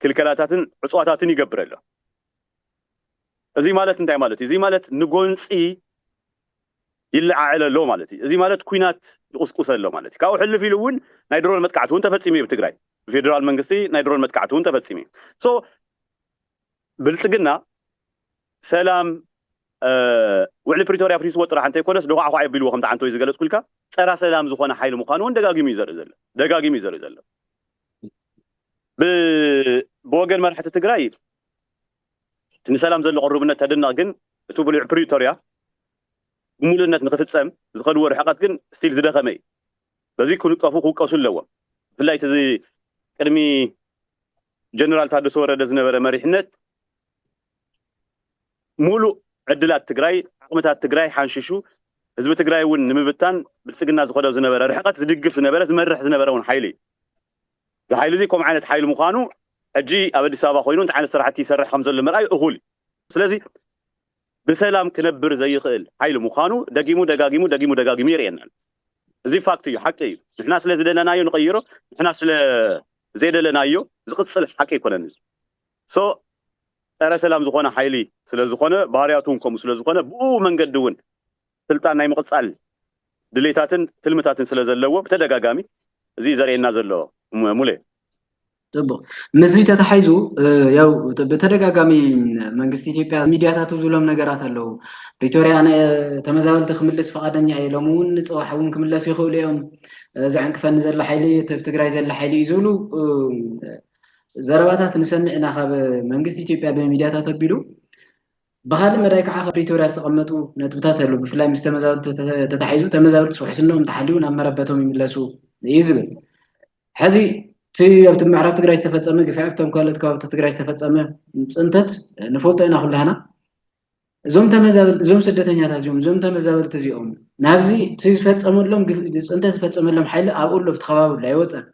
ክልከላታትን ዕፅዋታትን ይገብር ኣሎ። እዚ ማለት እንታይ ማለት እዩ? እዚ ማለት ንጎንፂ ይለዓዕል ኣሎ ማለት እዩ። እዚ ማለት ኲናት ይቑስቁስ ኣሎ ማለት እዩ። ካብኡ ሕልፍ ኢሉ እውን ናይ ድሮን መጥቃዕቲ እውን ተፈፂሙ እዩ ኣብ ትግራይ። ብፌደራል መንግስቲ ናይ ድሮን መጥቃዕቲ እውን ተፈፂሙ እዩ። So ብልፅግና ሰላም ውዕሊ ፕሪቶርያ ኣፍሪስዎ ጥራሕ እንተይኮነስ ዶዃዕዃዕ የቢልዎ ከምቲ ዓንተወይ ዝገለፅኩልካ ፀራ ሰላም ዝኾነ ሓይሊ ምዃኑ እውን ደጋጊሙ እዩ ዘርኢ ዘሎ። ደጋጊሙ እዩ ዘርኢ ዘሎ። ብወገን መራሕቲ ትግራይ እቲ ንሰላም ዘሎ ቅሩብነት ተድነቕ ግን እቲ ብሉዕ ፕሪቶርያ ብምሉእነት ንክፍፀም ዝኸድዎ ርሕቐት ግን ስቲል ዝደኸመ እዩ። በዚ ክንቀፉ ክውቀሱ ኣለዎም። ብፍላይ እቲ ቅድሚ ጀነራል ታደሰ ወረደ ዝነበረ መሪሕነት ሙሉእ ዕድላት ትግራይ ዓቕምታት ትግራይ ሓንሺሹ ህዝቢ ትግራይ እውን ንምብታን ብልፅግና ዝኸዶ ዝነበረ ርሕቐት ዝድግፍ ዝነበረ ዝመርሕ ዝነበረ እውን ሓይሊ እዩ። እዚ ሓይሊ እዚ ከምኡ ዓይነት ሓይሊ ምዃኑ ሕጂ ኣብ ኣዲስ ኣበባ ኮይኑ እንታይ ዓይነት ስራሕቲ ይሰርሕ ከምዘሎ ምርኣይ እኹል እዩ። ስለዚ ብሰላም ክነብር ዘይኽእል ሓይሊ ምዃኑ ደጊሙ ደጋጊሙ ደጊሙ ደጋጊሙ የርእየና ኣሎ። እዚ ፋክት እዩ ሓቂ እዩ። ንሕና ስለዝደለናዮ ንቐይሮ ንሕና ስለዘይደለናዮ ዝቕፅል ሓቂ ኣይኮነን እዚ። so ጸረ ሰላም ዝኾነ ሓይሊ ስለ ዝኾነ ባህርያቱ ውን ከምኡ ስለ ዝኾነ ብእኡ መንገዲ ውን ስልጣን ናይ ምቕጻል ድሌታትን ትልምታትን ስለ ዘለዎ ብተደጋጋሚ እዚ እዩ ዘርእየና ዘሎ ሙሌ። ጽቡቕ ምስዚ ተታሒዙ ያው ብተደጋጋሚ መንግስቲ ኢትዮጵያ ሚድያታቱ ዝብሎም ነገራት ኣለዉ ፕሪቶርያ ተመዛበልቲ ክምልስ ፍቓደኛ እየ ሎሚ እውን ንፅባሕ እውን ክምለሱ ይኽእሉ እዮም ዘዕንቅፈኒ ዘሎ ሓይሊ ትግራይ ዘሎ ሓይሊ እዩ ዝብሉ ዘረባታት ንሰምዕ ኢና ካብ መንግስቲ ኢትዮጵያ ብሚድያታት ኣቢሉ ብኻልእ መዳይ ከዓ ካብ ፕሪቶርያ ዝተቐመጡ ነጥብታት ኣሉ ብፍላይ ምስ ተመዛበልቲ ተታሒዙ ተመዛበልቲ ውሕስነኦም ተሓልዩ ናብ መረበቶም ይምለሱ እዩ ዝብል ሕዚ እቲ ኣብቲ ምዕራብ ትግራይ ዝተፈፀመ ግፍዒ ኣብቶም ካልኦት ከባብታት ትግራይ ዝተፈፀመ ፅንተት ንፈልጦ ኢና ኩላህና እዞም ተመዛበልቲ እዞም ስደተኛታት እዚኦም እዞም ተመዛበልቲ እዚኦም ናብዚ እቲ ዝፈፀመሎም ፅንተት ዝፈፀመሎም ሓይሊ ኣብኡ ኣሎ ኣብቲ ከባቢ ኣሎ ኣይወፀን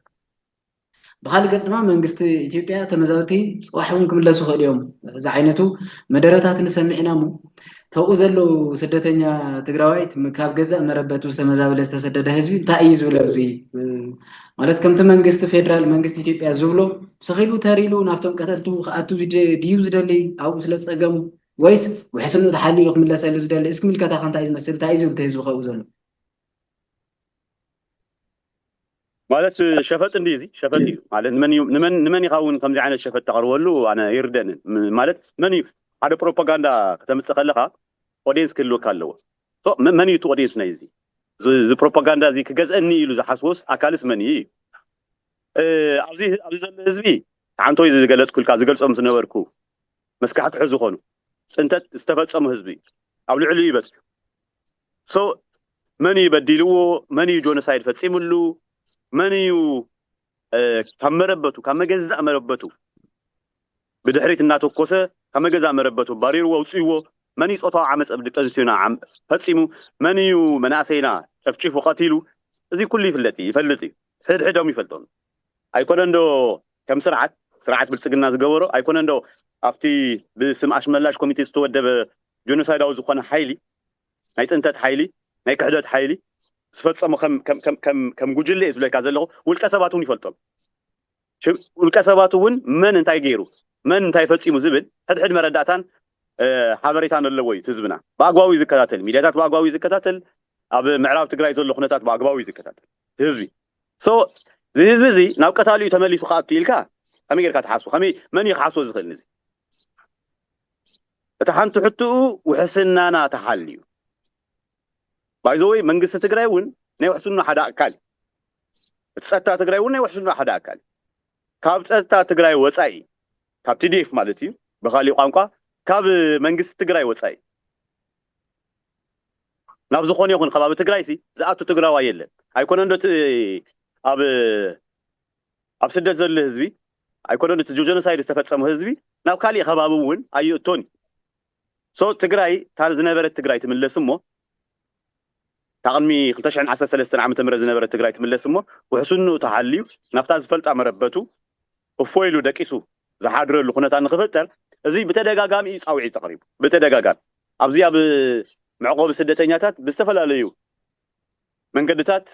ብኻሊእ ገፅ ድማ መንግስቲ ኢትዮጵያ ተመዛበልቲ ፅባሕ እውን ክምለሱ ይኽእሉ እዮም ዝዓይነቱ መደረታት ንሰምዕ ኢና እሞ ተብኡ ዘለዉ ስደተኛ ትግራዋይት ካብ ገዛእ መረበቱ ዝተመዛበለ ዝተሰደደ ህዝቢ እንታይ እዩ ዝብሎ እዚ ማለት ከምቲ መንግስቲ ፌደራል መንግስቲ ኢትዮጵያ ዝብሎ ስኺሉ ተሪሉ ናብቶም ቀተልቱ ክኣቱ ድዩ ዝደሊ ኣብኡ ስለ ዝፀገሙ ወይስ ውሕስንኡ ተሓሊኡ ክምለሰሉ ዝደሊ እስኪ ምልከታ ከንታይ ዝመስል እንታይ እዩ ዝብል ህዝቢ ከብኡ ዘሎ ማለት ሸፈጥ እንዲ እዚ ሸፈጥ እዩ ማለት ንመን እዩ ንመን ንመን ኢኻ እውን ከምዚ ዓይነት ሸፈጥ ተቕርበሉ ኣነ ኣይርደንን ማለት መን እዩ ሓደ ፕሮፓጋንዳ ከተምፅእ ከለኻ ኦዲየንስ ክህልወካ ኣለዎ መን እዩ እቲ ኦዲየንስ ናይ እዚ እዚ ፕሮፓጋንዳ እዚ ክገዝአኒ ኢሉ ዝሓስቦስ ኣካልስ መን እዩ ኣብዚ ኣብዚ ዘሎ ህዝቢ ሓንቶይ ዝገለፅኩልካ ዝገልፆም ዝነበርኩ መስካሕክሑ ዝኾኑ ፅንተት ዝተፈፀሙ ህዝቢ ኣብ ልዕሊኡ ይበፅሑ so መን እዩ በዲልዎ መን እዩ ጆኖሳይድ ፈፂምሉ መን እዩ ካብ መረበቱ ካብ መገዛእ መረበቱ ብድሕሪት እናተኮሰ ካብ መገዛእ መረበቱ ባሪርዎ ኣውፅእዎ መን እዩ ፆታዊ ዓመፅ ኣብ ደቂ ኣንስትዮና ፈፂሙ መን እዩ መናእሰይና ጨፍጪፉ ቀቲሉ እዚ ኩሉ ይፍለጥ እዩ ይፈልጥ እዩ ሕድሕዶም ይፈልጦም ኣይኮነ እንዶ ከም ስርዓት ስርዓት ብልፅግና ዝገበሮ ኣይኮነ እንዶ ኣብቲ ብስም ኣሽመላሽ ኮሚቴ ዝተወደበ ጆኖሳይዳዊ ዝኾነ ሓይሊ ናይ ፅንተት ሓይሊ ናይ ክሕደት ሓይሊ ዝፈፀሞ ከም ጉጅለ እየ ዝብለካ ዘለኹ ውልቀ ሰባት እውን ይፈልጦም ውልቀ ሰባት እውን መን እንታይ ገይሩ መን እንታይ ፈፂሙ ዝብል ሕድሕድ መረዳእታን ሓበሬታን ኣለዎ እዩ ህዝብና ብኣግባቡ እዩ ዝከታተል ሚዲያታት ብኣግባቡ እዩ ዝከታተል ኣብ ምዕራብ ትግራይ ዘሎ ኩነታት ብኣግባቡ እዩ ዝከታተል ህዝቢ ሶ እዚ ህዝቢ እዚ ናብ ቀታሊ እዩ ተመሊሱ ክኣቱ ኢልካ ከመይ ጌርካ ትሓስቦ ከመይ መን እዩ ክሓስቦ ዝኽእል ንዚ እታ ሓንቲ ሕትኡ ውሕስናና ተሓልዩ ባይዘወይ መንግስቲ ትግራይ እውን ናይ ውሕስና ሓደ ኣካል እዩ እቲ ፀጥታ ትግራይ እውን ናይ ውሕስና ሓደ ኣካል እዩ ካብ ፀጥታ ትግራይ ወፃኢ ካብ ቲዲኤፍ ማለት እዩ ብካሊእ ቋንቋ ካብ መንግስቲ ትግራይ ወፃኢ ናብ ዝኾነ ይኹን ከባቢ ትግራይ ሲ ዝኣቱ ትግራዋይ የለን ኣይኮነን ዶ ኣብ ኣብ ስደት ዘሉ ህዝቢ ኣይኮነን እቲ ጆጆኖሳይድ ዝተፈፀሙ ህዝቢ ናብ ካሊእ ከባቢ እውን ኣይእቶን እዩ so ትግራይ እታ ዝነበረት ትግራይ ትምለስ እሞ እታ ቅድሚ ክልተ ሽሕን ዓሰርተ ሰለስተን ዓመተ ምህረት ዝነበረት ትግራይ ትምለስ እሞ ውሕስንኡ ተሓልዩ ናብታ ዝፈልጣ መረበቱ እፎይ ኢሉ ደቂሱ ዝሓድረሉ ኩነታት ንክፍጠር እዚ ብተደጋጋሚ እዩ ፃውዒት ተቕሪቡ ብተደጋጋሚ ኣብዚ ኣብ መዕቆቢ ስደተኛታት ብዝተፈላለዩ መንገድታት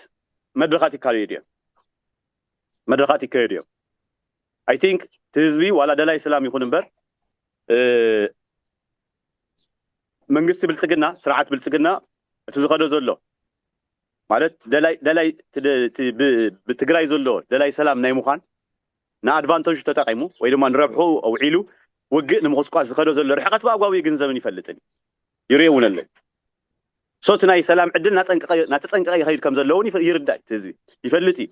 መድረኻት ይካለዩ ድዮም መድረኻት ይከየዱ እዮም ኣይ ቲንክ እቲ ህዝቢ ዋላ ደላይ ሰላም ይኹን እምበር መንግስቲ ብልፅግና ስርዓት ብልፅግና እቲ ዝኸዶ ዘሎ ማለት ደላይ ደላይ ብትግራይ ዘሎ ደላይ ሰላም ናይ ምዃን ንኣድቫንተጁ ተጠቂሙ ወይ ድማ ንረብሑ ኣውዒሉ ውግእ ንምቁስቋስ ዝኸዶ ዘሎ ርሕቀት ብኣግባቡ ይግንዘብን ይፈልጥን ይርኤ እውን ኣለዩ so እቲ ናይ ሰላም ዕድል ናተጸንቀቀ ይከይድ ከም ዘሎ ውን ይርዳእ እዩ እቲ ህዝቢ ይፈልጥ እዩ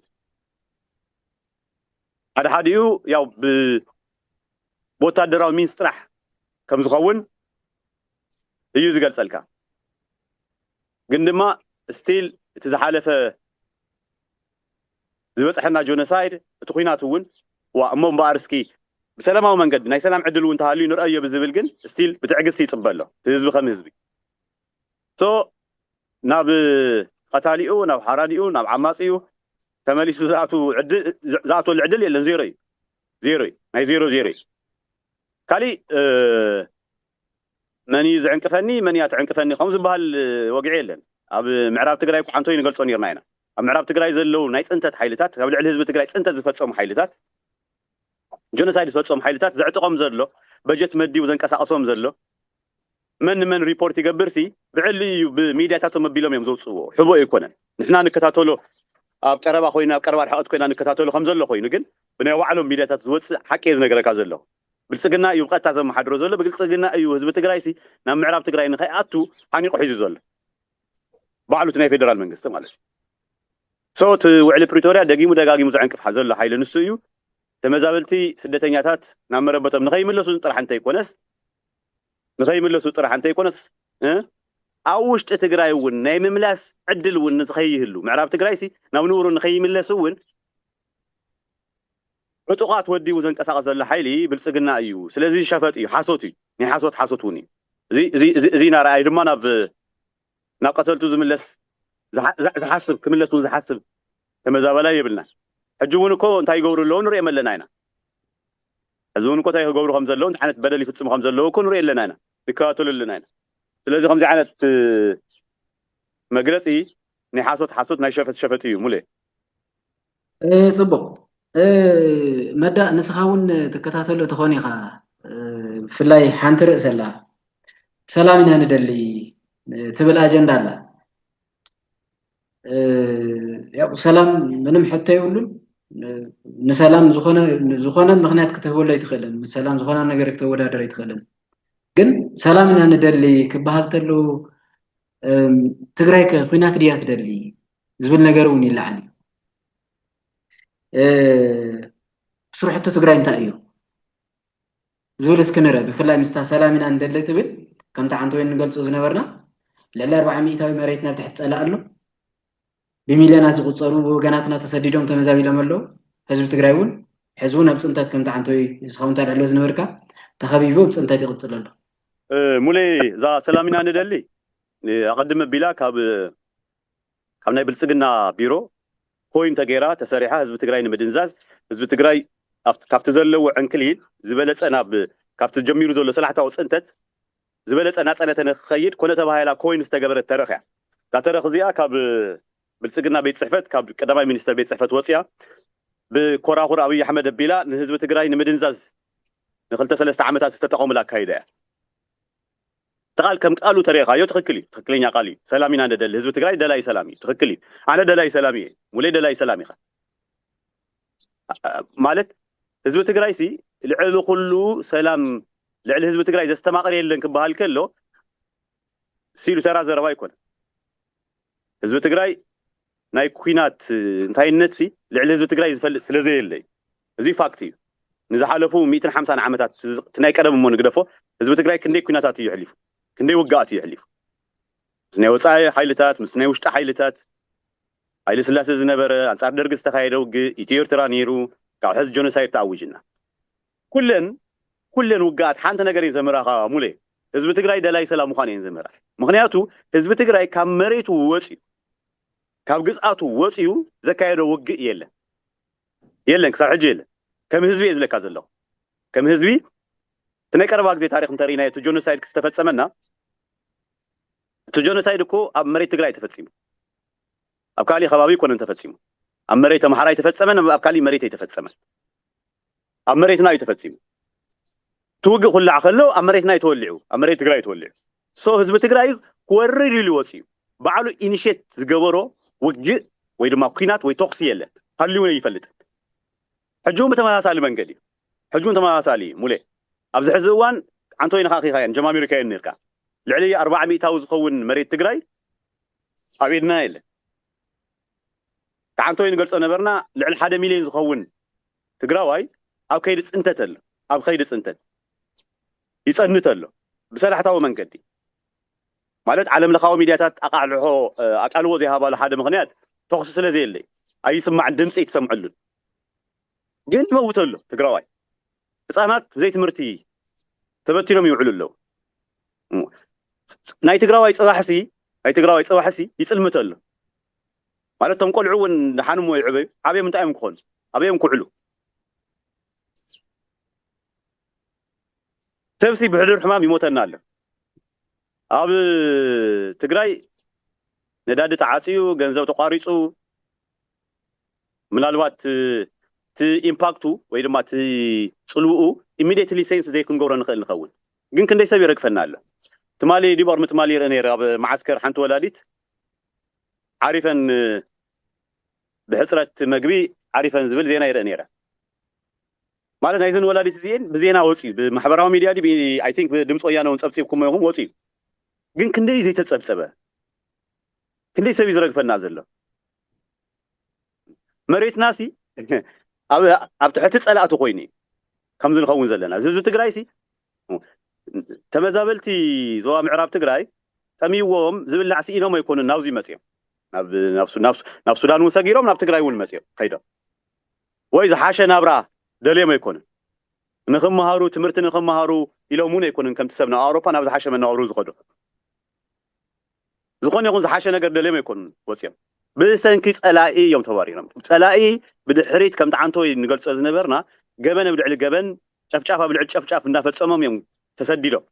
ሓደ ሓዲኡ ያው ብ ብወታደራዊ ሚንስ ጥራሕ ከም ዝከውን እዩ ዝገልጸልካ ግን ድማ ስቲል እቲ ዝሓለፈ ዝበጽሐና ጆነሳይድ እቲ ኩናት ውን ዋ እሞ እምበኣር እስኪ ብሰላማዊ መንገዲ ናይ ሰላም ዕድል ውን ተሃልዩ ንርኣዮ ብዝብል ግን ስቲል ብትዕግስቲ ይጽበ ኣሎ እቲ ህዝቢ ከም ህዝቢ so ናብ ቐታሊኡ ናብ ሓራዲኡ ናብ ዓማጺኡ ተመሊሱ ዝኣቱ ዕድል ዝኣትወሉ ዕድል የለን ዜሮ እዩ ዜሮ እዩ ናይ ዜሮ ዜሮ እዩ ካሊእ መን እዩ ዝዕንቅፈኒ መን እያ ትዕንቅፈኒ ከምኡ ዝበሃል ወግዒ የለን ኣብ ምዕራብ ትግራይ ቋዓንቶይ ንገልጾ ኔርና ኢና ኣብ ምዕራብ ትግራይ ዘለዉ ናይ ፅንተት ሓይልታት ካብ ልዕሊ ህዝቢ ትግራይ ፅንተት ዝፈፀሙ ሓይልታት ጀኖሳይድ ዝፈፀሙ ሓይልታት ዘዕጥቆም ዘሎ በጀት መዲቡ ዘንቀሳቕሶም ዘሎ መን ንመን ሪፖርት ይገብር ሲ ብዕሊ እዩ ብሚድያታቶም ኣቢሎም እዮም ዘውፅእዎ ሕቦ ኣይኮነን ንሕና ንከታተሎ ኣብ ቀረባ ኮይና ኣብ ቀረባ ርሕቐት ኮይና ንከታተሎ ከምዘሎ ኮይኑ ግን ብናይ ባዕሎም ሚድያታት ዝወፅእ ሓቂ እየ ዝነገረካ ዘለኹ ብልፅግና እዩ ብቐጥታ ዘመሓድሮ ዘሎ ብግልፅግና እዩ ህዝቢ ትግራይ ሲ ናብ ምዕራብ ትግራይ ንኸይኣቱ ሓኒቑ ሒዙ ዘሎ ባዕሉ እቲ ናይ ፌደራል መንግስቲ ማለት እዩ ሶ እቲ ውዕሊ ፕሪቶርያ ደጊሙ ደጋጊሙ ዘዕንቅፍ ዘሎ ሓይሊ ንሱ እዩ ተመዛበልቲ ስደተኛታት ናብ መረበቶም ንኸይምለሱ ጥራሕ እንተይኮነስ ንኸይምለሱ ጥራሕ እንተይኮነስ ኣብ ውሽጢ ትግራይ እውን ናይ ምምላስ ዕድል እውን ንዝኸይህሉ ምዕራብ ትግራይሲ ናብ ንቡሩ ንኸይምለስ እውን ዕጡቓት ወዲቡ ዘንቀሳቕስ ዘሎ ሓይሊ ብልፅግና እዩ። ስለዚ ሸፈጥ እዩ፣ ሓሶት እዩ፣ ናይ ሓሶት ሓሶት እውን እዩ። እዚ እዚ እዚ እዚ ናርኣይ ድማ ናብ ናብ ቀተልቱ ዝምለስ ዝሓስብ ክምለስ ውን ዝሓስብ ተመዛባላይ የብልናን ሕጂ ውን እኮ እንታይ ይገብሩ ኣለዉ ንርእዮም ኣለና ኢና ሕዚ ውን እኮ እንታይ ክገብሩ ከም ዘለዉ እንታይ ዓይነት በደል ይፍጽሙ ከም ዘለዉ እኮ ንርእዮ ኣለና ኢና ንከታተሎ ኣለና ኢና ስለዚ ከምዚ ዓይነት መግለጺ ናይ ሓሶት ሓሶት ናይ ሸፈጥ ሸፈጥ እዩ ሙሌ። ጽቡቕ መዳእ ንስኻ እውን ትከታተሎ ትኾን ኢኻ ብፍላይ ሓንቲ ርእሲ ኣላ ሰላም ኢና ንደሊ ትብል ኣጀንዳ ኣላ ያው ሰላም ምንም ሕቶ የብሉን ንሰላም ዝኾነ ዝኾነ ምክንያት ክትህበሉ ኣይትኽእልን ምስ ሰላም ዝኾነ ነገር ክተወዳደር ኣይትኽእልን ግን ሰላም ኢና ንደሊ ክበሃል ተሎ ትግራይ ከ ኩናት ድያ ትደሊ ዝብል ነገር እውን ይለዓል እዩ። ስርሕቲ ትግራይ እንታይ እዩ ዝብል እስኪ ንረ ብፍላይ ምስታ ሰላም ኢና ንደሊ ትብል ከምቲ ዓንተ ወይ ንገልፆ ዝነበርና ልዕሊ ኣርባዓ ሚእታዊ መሬት ናብ ትሕቲ ፀላእ ኣሎ ብሚልዮናት ዝቁፀሩ ወገናትና ተሰዲዶም ተመዛቢሎም ኣለዉ ህዝቢ ትግራይ እውን ሕዚ እውን ኣብ ፅንተት ከምቲ ዓንተ ወይ እስኻውን ታልዕሎ ዝነበርካ ተኸቢቡ ኣብ ፅንተት ይቕፅል ኣሎ ሙሌ እዛ ሰላም ኢና ንደሊ ኣቐድመ ቢላ ካብ ካብ ናይ ብልፅግና ቢሮ ኮይን ተገይራ ተሰሪሓ ህዝቢ ትግራይ ንምድንዛዝ ህዝቢ ትግራይ ካብቲ ዘለዎ ዕንክሊል ዝበለፀ ናብ ካብቲ ጀሚሩ ዘሎ ሰላሕታዊ ፅንተት ዝበለፀ ናፀነተ ንክኸይድ ኮነ ተባሂላ ኮይን ዝተገበረት ተረኽ እያ እዛ ተረኽ እዚኣ ካብ ብልፅግና ቤት ፅሕፈት ካብ ቀዳማይ ሚኒስተር ቤት ፅሕፈት ወፅያ ብኮራኹር ኣብይ ኣሕመድ ኣቢላ ንህዝቢ ትግራይ ንምድንዛዝ ንክልተ ሰለስተ ዓመታት ዝተጠቐሙላ ኣካይዳ እያ። እቲ ቃል ከም ቃሉ ተሪኢኻዮ ትኽክል እዩ ትኽክለኛ ቃል እዩ ሰላም ኢና ንደሊ ህዝቢ ትግራይ ደላይ ሰላም እዩ ትኽክል እዩ ኣነ ደላይ ሰላም እየ ሙለይ ደላይ ሰላም ኢኻ ማለት ህዝቢ ትግራይ ሲ ልዕሊ ኩሉ ሰላም ልዕሊ ህዝቢ ትግራይ ዘስተማቕር የለን ክበሃል ከሎ ሲሉ ተራ ዘረባ ኣይኮነ ህዝቢ ትግራይ ናይ ኩናት እንታይነትሲ ልዕሊ ህዝቢ ትግራይ ዝፈልጥ ስለዘየለ እዩ። እዙይ ፋክት እዩ። ንዝሓለፉ ሚእትን ሓምሳን ዓመታት እቲ ናይ ቀደም እሞ ንግደፎ ህዝቢ ትግራይ ክንደይ ኩናታት እዩ የሕሊፉ፣ ክንደይ ውግኣት እዩ የሕሊፉ። ምስ ናይ ወፃኢ ሓይልታት፣ ምስ ናይ ውሽጢ ሓይልታት፣ ሃይለ ስላሴ ዝነበረ፣ ኣንፃር ደርጊ ዝተኻየደ ውግእ፣ ኢትዮ ኤርትራ ነይሩ፣ ካብ ሕዚ ጆኖሳይድ ተኣዊጅና። ኩለን ኩለን ውግኣት ሓንቲ ነገር እየን ዘምህራኻ ሙሌ፣ ህዝቢ ትግራይ ደላይ ሰላም ምዃን እየን ዘምህራ። ምኽንያቱ ህዝቢ ትግራይ ካብ መሬቱ ወፅዩ ካብ ግዝኣቱ ወጺኡ ዘካየዶ ውግእ የለን የለን ክሳብ ሕጂ የለን ከም ህዝቢ እየ ዝብለካ ዘለኹ ከም ህዝቢ እቲ ናይ ቀረባ ግዜ ታሪኽ እንተርኢናዮ እቲ ጆኖሳይድ ክስተፈጸመና እቲ ጆኖሳይድ እኮ ኣብ መሬት ትግራይ ተፈጺሙ ኣብ ካሊእ ከባቢ ኣይኮነን ተፈጺሙ ኣብ መሬት ኣምሓራ ኣይተፈጸመን ኣብ ካሊእ መሬት ኣይተፈጸመን ኣብ መሬትና እዩ ተፈፂሙ እቲ ውግእ ኩላዕ ከሎ ኣብ መሬትና እዩ ተወሊዑ ኣብ መሬት ትግራይ እዩ ተወሊዑ ሶ ህዝቢ ትግራይ ክወርር ኢሉ ወፂኡ ባዕሉ ኢኒሼት ዝገበሮ ውግእ ወይ ድማ ኩናት ወይ ተኹሲ የለን ሃልዩ እውን ኣይፈልጥን ሕጂ እውን ብተመሳሳሊ መንገድ እዩ ሕጂ እውን ተመሳሳሊ እዩ ሙሌ ኣብዚ ሕዚ እዋን ዓንቶይ ነኻኺኻየን ጀማሚርካየን ነርካ ልዕሊ ኣርባዓ ሚእታዊ ዝኸውን መሬት ትግራይ ኣብ ኢድና የለን ተዓንቶይ ንገልጾ ነበርና ልዕሊ ሓደ ሚልዮን ዝኸውን ትግራዋይ ኣብ ከይዲ ፅንተት ኣሎ ኣብ ኸይዲ ፅንተት ይፀንት ኣሎ ብሰላሕታዊ መንገዲ ማለት ዓለም ለኻዊ ሚድያታት ኣቃልሖ ኣቃልቦ ዘይሃባሉ ሓደ ምኽንያት ተኹሲ ስለ ዘየለ እዩ ኣይስማዕን ድምፂ ኣይትሰምዐሉን ግን ይመውት ኣሎ ትግራዋይ ህፃናት ብዘይ ትምህርቲ ተበቲኖም ይውዕሉ ኣለዉ ናይ ትግራዋይ ጽባሕሲ ናይ ትግራዋይ ጽባሕሲ ይጽልምት ኣሎ ማለት ቶም ቆልዑ እውን ድሓን እሞ ይዕበዩ ዓብዮም እንታይ እዮም ክኾኑ ኣበዮም ክውዕሉ ሰብሲ ብሕዱር ሕማም ይሞተና ኣሎ ኣብ ትግራይ ነዳዲ ተዓፅዩ ገንዘብ ተቋሪፁ ምናልባት እቲ ኢምፓክቱ ወይ ድማ እቲ ፅልውኡ ኢሚዲየትሊ ሴንስ ዘይክንገብሮ ንኽእል ንኸውን ግን ክንደይ ሰብ ይረግፈና ኣሎ ትማሊ ዲብ ኦርሚ ትማሊ ይርኢ ነይረ ኣብ መዓስከር ሓንቲ ወላዲት ዓሪፈን ብሕጽረት መግቢ ዓሪፈን ዝብል ዜና ይርኢ ነይረ ማለት ናይዘን ወላዲት እዚኤን ብዜና ወጽዩ ብማሕበራዊ ሚድያ ዲብ ኣይ ቲንክ ብድምፂ ወያነ እውን ጸብጺብኩሞ ኢኹም ወጽዩ ግን ክንደይ እዩ ዘይተጸብጸበ ክንደይ ሰብ እዩ ዝረግፈና ዘሎ መሬትና ሲ ኣብ ትሕቲ ፀላእቲ ኮይኑ እዩ ከምዚ ንኸውን ዘለና እዚ ህዝቢ ትግራይ ሲ ተመዛበልቲ ዞባ ምዕራብ ትግራይ ጠሚዎም ዝብላዕ ስኢኖም ኣይኮኑን ናብዚ መፅኦም ናብ ሱዳን እውን ሰጊሮም ናብ ትግራይ እውን መፅኦም ከይዶም ወይ ዝሓሸ ናብራ ደልዮም ኣይኮኑን ንክመሃሩ ትምህርቲ ንክመሃሩ ኢሎም እውን ኣይኮኑን ከምቲ ሰብ ናብ ኣውሮፓ ናብ ዝሓሸ መነባብሮ ዝኸዱ ዝኾነ ይኹን ዝሓሸ ነገር ደልዮም ኣይኮኑን ወጽዮም። ብሰንኪ ጸላኢ እዮም ተባሪሮም። ጸላኢ ብድሕሪት ከምቲ ዓንተወይ ንገልጾ ዝነበርና ገበን ኣብ ልዕሊ ገበን፣ ጨፍጫፍ ኣብ ልዕሊ ጨፍጫፍ እንዳፈጸሞም እዮም ተሰዲዶም።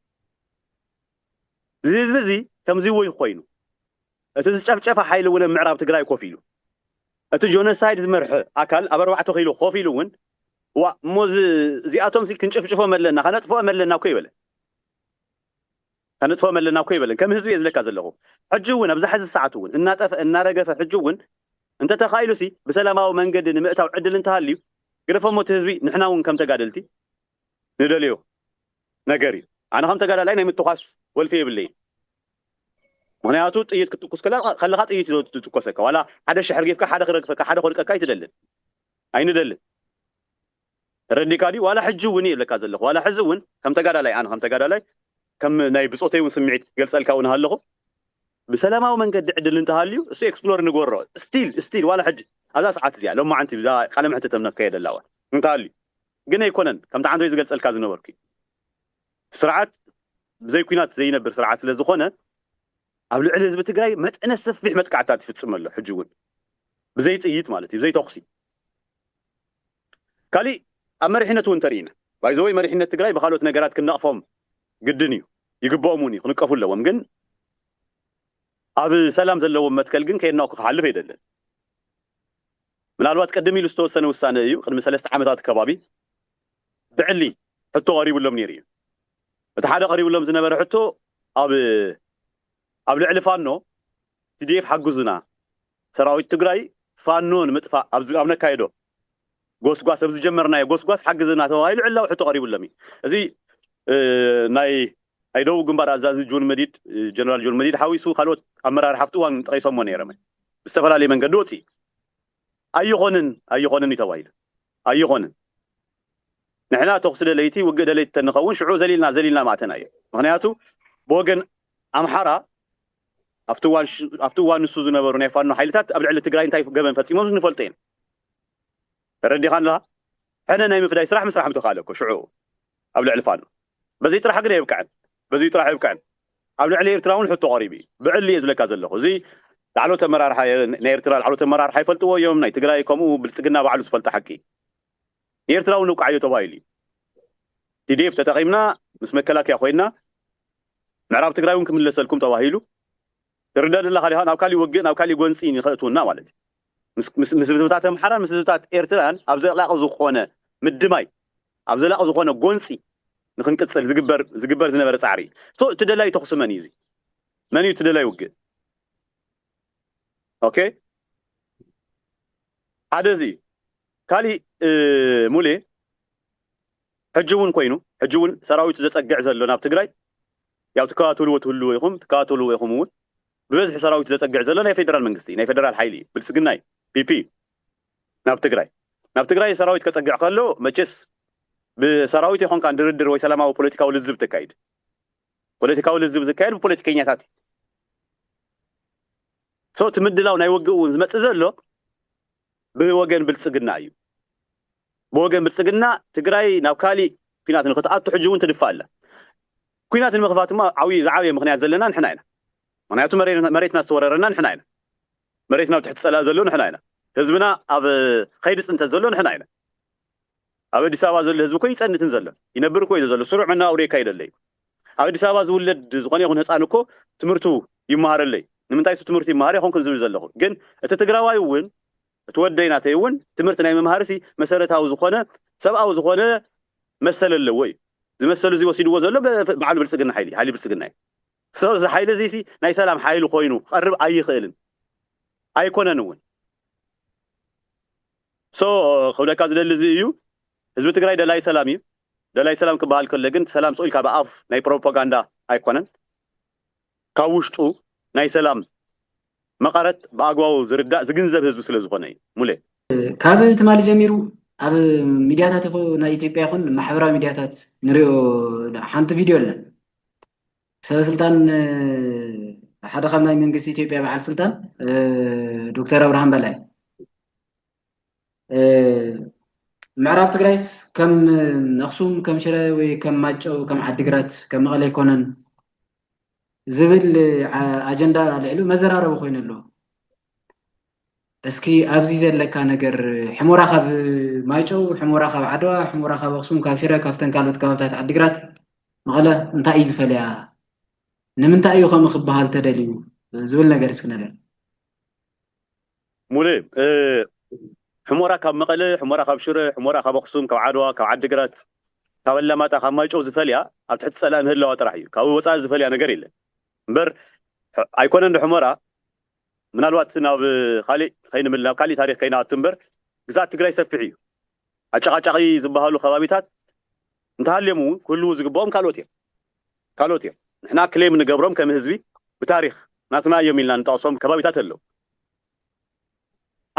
እዚ ህዝቢ እዚ ከምዚ ወይ ኮይኑ እቲ ዝጨፍጨፈ ሓይሊ እውን ኣብ ምዕራብ ትግራይ ኮፍ ኢሉ እቲ ጆኖሳይድ ዝመርሐ ኣካል ኣብ ኣርባዕተ ኪሎ ኮፍ ኢሉ እውን ዋ እሞ እዚኣቶም ክንጭፍጭፎም ኣለና ከነጥፍኦም ኣለና እኮ ይበለ ከነጥፍኦም ኣለና እኮ ኣይበለን ከም ህዝቢ እየ ዝብለካ ዘለኹ ሕጂ እውን ኣብዛ ሕዚ ሰዓት እውን እናጠፈ እናረገፈ ሕጂ እውን እንተተኻኢሉሲ ብሰላማዊ መንገዲ ንምእታው ዕድል እንተሃልዩ ግደፎሞ እቲ ህዝቢ ንሕና እውን ከም ተጋደልቲ ንደልዮ ነገር እዩ ኣነ ከም ተጋዳላይ ናይ ምትኳስ ወልፊ የብለይን ምክንያቱ ጥይት ክትትኩስ ከለካ ጥይት እዩ ዝትኮሰካ ዋላ ሓደ ሽሕ ርጊፍካ ሓደ ክረግፈካ ሓደ ክወድቀካ ኣይትደልን ኣይንደልን ተረዲእካ ድዩ ዋላ ሕጂ ውን እየ እብለካ ዘለኩ ዋላ ሕዚ ውን ከም ተጋዳላይ ኣነ ከም ተጋዳላይ ከም ናይ ብጾተይ ውን ስምዒት ክገልጸልካ ውን ሃለኩ ብሰላማዊ መንገዲ ዕድል እንተሃልዩ እሱ ኤክስፕሎር ንግበሮ ስቲል ስቲል ዋላ ሕጂ ኣብዛ ሰዓት እዚኣ ሎማዓንቲ ብዛባ ቃለ መሕትት እነካየደላ ውን እንተሃልዩ ግን ኣይኮነን ከምቲ ዓንተይ ዝገልጸልካ ዝነበርኩ ስርዓት ብዘይ ኩናት ዘይነብር ስርዓት ስለ ዝኮነ ኣብ ልዕሊ ህዝቢ ትግራይ መጠነ ሰፊሕ መጥቃዕትታት ይፍጽም ኣሎ ሕጂ ውን ብዘይ ጥይት ማለት እዩ ብዘይ ተኩሲ ካሊእ ኣብ መሪሕነት እውን ተሪኢና ባይ ዘ ዌይ መሪሕነት ትግራይ ብካልኦት ነገራት ክንነቅፎም ግድን እዩ ይግበኦም እውን እዩ ክንቀፉ ኣለዎም ግን ኣብ ሰላም ዘለዎም መትከል ግን ከየናኩ ክሓልፍ ኣይደልን ምናልባት ቅድም ኢሉ ዝተወሰነ ውሳነ እዩ ቅድሚ ሰለስተ ዓመታት ከባቢ ብዕሊ ሕቶ ቀሪብሎም ነይሩ እዩ እቲ ሓደ ቀሪብሎም ዝነበረ ሕቶ ኣብ ኣብ ልዕሊ ፋኖ tdf ሓግዙና ሰራዊት ትግራይ ፋኖ ንምጥፋእ ኣብ ነካይዶ ጎስጓስ ኣብ ዝጀመርናዮ ጎስጓስ ሓግዝና ተባሂሉ ዕላዊ ሕቶ ቀሪብሎም እዩ እዚ ናይ ናይ ደቡብ ግንባር ኣዛዚ ጆን መዲድ ጀነራል ጆን መዲድ ሓዊሱ ካልኦት ኣመራርሓ ኣብቲ እዋን ጠቒሶሞ ነይሮም እዮም ብዝተፈላለየ መንገዲ ወፂኡ ኣይኾንን ኣይኾንን እዩ ተባሂሉ ኣይኾንን ንሕና ተኹሲ ደለይቲ ውግእ ደለይቲ ተንኸውን ሽዑ ዘሊልና ዘሊልና ምኣተናዮ ምኽንያቱ ብወገን ኣምሓራ ኣብቲ እዋን ኣብቲ እዋን ንሱ ዝነበሩ ናይ ፋኖ ሓይልታት ኣብ ልዕሊ ትግራይ እንታይ ገበን ፈጺሞም ንፈልጦ ኢና ተረዲኻን ኣለኻ ሕነ ናይ ምፍዳይ ስራሕ ምስራሕ ምተኻለ እኮ ሽዑ ኣብ ልዕሊ ፋኖ በዚ ጥራሕ ግን ኣይብቅዕን በዚ ጥራሕ ኣይብቅዕን ኣብ ልዕሊ ኤርትራ እውን ሕቶ ቀሪቡ እዩ ብዕሊ እየ ዝብለካ ዘለኹ እዚ ላዕሎት ኣመራርሓ ናይ ኤርትራ ላዕሎት ኣመራርሓ ይፈልጥዎ እዮም ናይ ትግራይ ከምኡ ብልፅግና ባዕሉ ዝፈልጦ ሓቂ ኤርትራዊ ነብቅዓዮ ተባሂሉ እዩ tdf ተጠቂምና ምስ መከላከያ ኮይና ምዕራብ ትግራይ ውን ክምለሰልኩም ተባሂሉ ትርደእ ደለካ ዲካ ናብ ካሊእ ወግእ ናብ ካሊእ ጎንፂ ንከእትውና ማለት እዩ ምስ ምስ ህዝብታት ኣምሓራን ምስ ህዝብታት ኤርትራን ኣብ ዘላቂ ዝኾነ ምድማይ ኣብ ዘላቂ ዝኾነ ጎንፂ ንክንቅፅል ዝግበር ዝግበር ዝነበረ ፃዕሪ እዩ እቲ ደላይ ተኹሲ መን እዩ እዚ መን እዩ እቲ ደላይ ውግእ ኦኬ ሓደ እዚ እዩ ካሊእ ሙሌ ሕጂ ውን ኮይኑ ሕጂ ውን ሰራዊቱ ዘጸግዕ ዘሎ ናብ ትግራይ ያው ትከታተልዎ ትህልዎ ኢኹም ትከታተልዎ ኢኹም ውን ብበዝሒ ሰራዊቱ ዘጸግዕ ዘሎ ናይ ፌደራል መንግስቲ ናይ ፌደራል ሓይሊ እዩ ብልጽግና እዩ ፒፒ እዩ ናብ ትግራይ ናብ ትግራይ ሰራዊት ከጸግዕ ከሎ መቼስ ብሰራዊት ኣይኮንካን ድርድር ወይ ሰላማዊ ፖለቲካዊ ልዝብ ተካይድ ፖለቲካዊ ልዝብ ዝካየድ ብፖለቲከኛታት እዩ So እቲ ምድላው ናይ ውግእ እውን ዝመፅእ ዘሎ ብወገን ብልፅግና እዩ። ብወገን ብልፅግና ትግራይ ናብ ካሊእ ኲናት ንኽትኣቱ ሕጂ እውን ትድፋእ ኣላ። ኲናት ንምኽፋት እሞ ዓብዪ ዝዓበየ ምኽንያት ዘለና ንሕና ኢና። ምኽንያቱ መሬትና ዝተወረረና ንሕና ኢና። መሬትና ኣብ ትሕቲ ፀላኢ ዘሎ ንሕና ኢና። ህዝብና ኣብ ኸይዲ ፅንተት ዘሎ ንሕና ኢና። ኣብ ኣዲስ ኣበባ ዘሎ ህዝቢ እኮ ይጸንትን ዘሎ ይነብር እኮ እዩ ዘሎ ስሩዕ መነባብሮ የካይድ ኣሎ እዩ ኣብ ኣዲስ ኣበባ ዝውለድ ዝኾነ ይኹን ህጻን እኮ ትምህርቱ ይመሃር ኣሎ እዩ ንምንታይ እሱ ትምህርቱ ይመሃር ይኾንኩን ዝብል ዘለኹ ግን እቲ ትግራዋይ እውን እቲ ወደይ ናተይ እውን ትምህርቲ ናይ ምምሃርሲ መሰረታዊ ዝኾነ ሰብኣዊ ዝኾነ መሰል ኣለዎ እዩ ዝመሰሉ እዚ ወሲድዎ ዘሎ በዓሉ ብልጽግና ሓይሊ ሓይሊ ብልጽግና እዩ ሰው እዚ ሓይሊ እዚ ሲ ናይ ሰላም ሓይሊ ኮይኑ ክቐርብ ኣይኽእልን ኣይኮነን እውን So ክብለካ ዝደሊ እዚ እዩ ህዝቢ ትግራይ ደላይ ሰላም እዩ ደላይ ሰላም ክበሃል ከሎ ግን ሰላም ስቅ ኢልካ ብኣፍ ናይ ፕሮፓጋንዳ ኣይኮነን ካብ ውሽጡ ናይ ሰላም መቀረት ብኣግባቡ ዝርዳእ ዝግንዘብ ህዝቢ ስለ ዝኮነ እዩ ሙሌ። ካብ ትማሊ ጀሚሩ ኣብ ሚድያታት ናይ ኢትዮጵያ ይኹን ማሕበራዊ ሚድያታት ንሪኦ ሓንቲ ቪድዮ ኣላ ሰበስልጣን ሓደ ካብ ናይ መንግስቲ ኢትዮጵያ በዓል ስልጣን ዶክተር ኣብርሃም በላይ ምዕራብ ትግራይስ ከም ኣክሱም ከም ሽረ ወይ ከም ማጨው ከም ዓዲግራት ከም መቐለ ኣይኮነን ዝብል ኣጀንዳ ኣልዒሉ መዘራረቢ ኮይኑ ኣሎ። እስኪ ኣብዚ ዘለካ ነገር ሕሞራ ካብ ማይጨው ሕሞራ ካብ ዓድዋ ሕሞራ ካብ ኣክሱም ካብ ሽረ ካብተን ካልኦት ከባብታት ዓዲግራት መቐለ እንታይ እዩ ዝፈልያ ንምንታይ እዩ ከምኡ ክበሃል ተደልዩ ዝብል ነገር እስኪ ንርኢ ሙሌ ሕሞራ ካብ መቐለ ሕሞራ ካብ ሽረ ሕሞራ ካብ ኣክሱም ካብ ዓድዋ ካብ ዓዲግራት ካብ ኣላማጣ ካብ ማይጨው ዝፈልያ ኣብ ትሕቲ ፀላኢ ምህላዋ ጥራሕ እዩ ካብኡ ወፃኢ ዝፈልያ ነገር የለን እምበር ኣይኮነን ዶ ሕሞራ ምናልባት ናብ ካሊእ ከይንምል ናብ ካሊእ ታሪኽ ከይንኣቱ እምበር ግዝኣት ትግራይ ሰፊሕ እዩ። ኣጨቓጫቒ ዝበሃሉ ከባቢታት እንተሃልዮም እውን ክህልዉ ዝግበኦም ካልኦት እዮም። ካልኦት እዮም። ንሕና ክሌም እንገብሮም ከም ህዝቢ ብታሪኽ ናትና እዮም ኢልና እንጠቕሶም ከባቢታት ኣለዉ።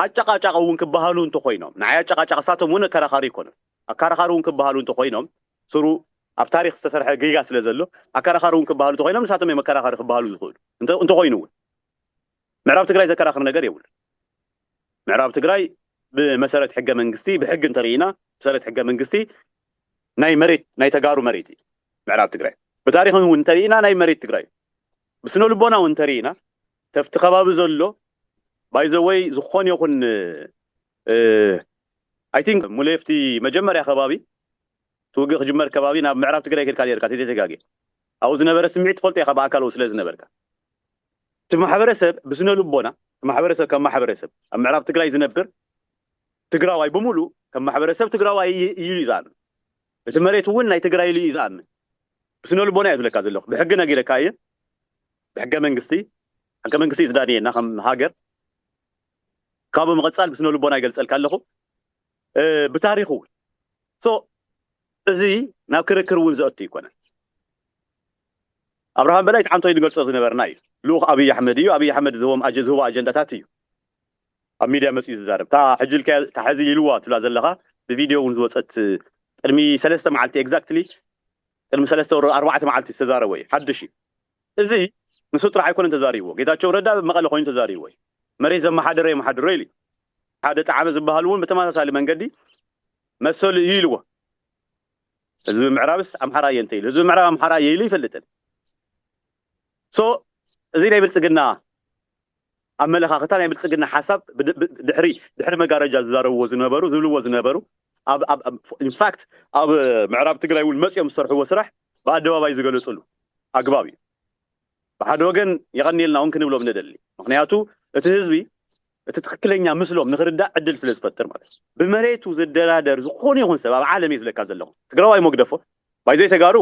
ኣጨቓጫቒ እውን ክበሃሉ እንተኾይኖም ንዓይ ኣጨቓጫቒ እሳቶም እውን ኣከራኻሪ ኣይኮኑን። ኣከራኻሪ እውን ክበሃሉ እንተኾይኖም ስሩ ኣብ ታሪኽ ዝተሰርሐ ጌጋ ስለዘሎ ኣከራኻሪ እውን ክበሃሉ እንተኾይኖም ንሳቶም እዮም ኣከራኻሪ ክበሃሉ ዝኽእሉ እንተኾይኑ እውን ምዕራብ ትግራይ ዘከራኽር ነገር የብሉን። ምዕራብ ትግራይ ብመሰረት ሕገ መንግስቲ ብሕጊ እንተርኢና ብሰረት ሕገ መንግስቲ ናይ መሬት ናይ ተጋሩ መሬት እዩ ምዕራብ ትግራይ ብታሪክ እውን እንተርኢና ናይ መሬት ትግራይ እዩ ብስነ ልቦና እውን እንተርኢና ተፍቲ ከባቢ ዘሎ ባይዘወይ ዝኾን ይኹን ኣይ ቲንክ ሙሌፍቲ መጀመርያ ከባቢ ትውግእ ክጅመር ከባቢ ናብ ምዕራብ ትግራይ ከድካ ርካ ተዘይተጋጌ ኣብኡ ዝነበረ ስምዒት ትፈልጦ ኢኻ ብኣካል ስለ ዝነበርካ እቲ ማሕበረሰብ ብስነልቦና እቲ ማሕበረሰብ ከም ማሕበረሰብ ኣብ ምዕራብ ትግራይ ዝነብር ትግራዋይ ብምሉእ ከም ማሕበረሰብ ትግራዋይ ኢሉ እዩ ዝኣምን። እቲ መሬት እውን ናይ ትግራይ ኢሉ እዩ ዝኣምን። ብስነልቦና እየ ዝብለካ ዘለኹ። ብሕጊ ነጊረካ እየ። ብሕገ መንግስቲ ሕገ መንግስቲ እዩ ዝዳንየና ከም ሃገር። ካብ ብምቕፃል ብስነልቦና ይገልፀልካ ኣለኹ። ብታሪኽ እውን ሶ እዚ ናብ ክርክር እውን ዘእቱ ኣይኮነን። ኣብርሃም በላይ እቲ ሓንቶይ ንገልጾ ዝነበርና እዩ ልኡኽ ኣብይ ኣሕመድ እዩ ኣብይ ኣሕመድ ዝህቦም ዝህቦ ኣጀንዳታት እዩ ኣብ ሚድያ መጺኡ ዝዛረብ እታ ሕጂ ኢልካያ እታ ሕዚ ኢልዋ ትብላ ዘለኻ ብቪድዮ ውን ዝወጸት ቅድሚ ሰለስተ መዓልቲ ኤግዛክትሊ ቅድሚ ሰለስተ ወር ኣርባዕተ መዓልቲ ዝተዛረቦ እዩ ሓድሽ እዩ እዚ ንሱ ጥራሕ ኣይኮነን ተዛሪብዎ ጌታቸው ረዳ ኣብ መቐለ ኮይኑ ተዛሪብዎ እዩ መሬት ዘመሓደረ የመሓድሮ ኢሉ ሓደ ጣዕመ ዝበሃል እውን ብተመሳሳሊ መንገዲ መሰሉ እዩ ኢልዎ ህዝቢ ምዕራብስ ኣምሓራ እየ እንተይሉ ህዝቢ ምዕራብ ኣምሓራ እየ ኢሉ ኣይፈልጥን so እዚ ናይ ብልጽግና ኣመለኻኽታ ናይ ብልጽግና ሓሳብ ድሕሪ ድሕሪ መጋረጃ ዝዛረብዎ ዝነበሩ ዝብልዎ ዝነበሩ ኢንፋክት ኣብ ምዕራብ ትግራይ እውን መፅኦም ዝሰርሕዎ ስራሕ ብኣደባባይ ዝገለፅሉ ኣግባብ እዩ ብሓደ ወገን የቐንየልና እውን ክንብሎም ንደሊ ምክንያቱ እቲ ህዝቢ እቲ ትኽክለኛ ምስሎም ንኽርዳእ ዕድል ስለ ዝፈጥር ማለት እዩ። ብመሬቱ ዝደራደር ዝኾነ ይኹን ሰብ ኣብ ዓለም እየ ዝብለካ ዘለኹ። ትግራዋይ እሞ ግደፎ ባይ ዘይተጋሩ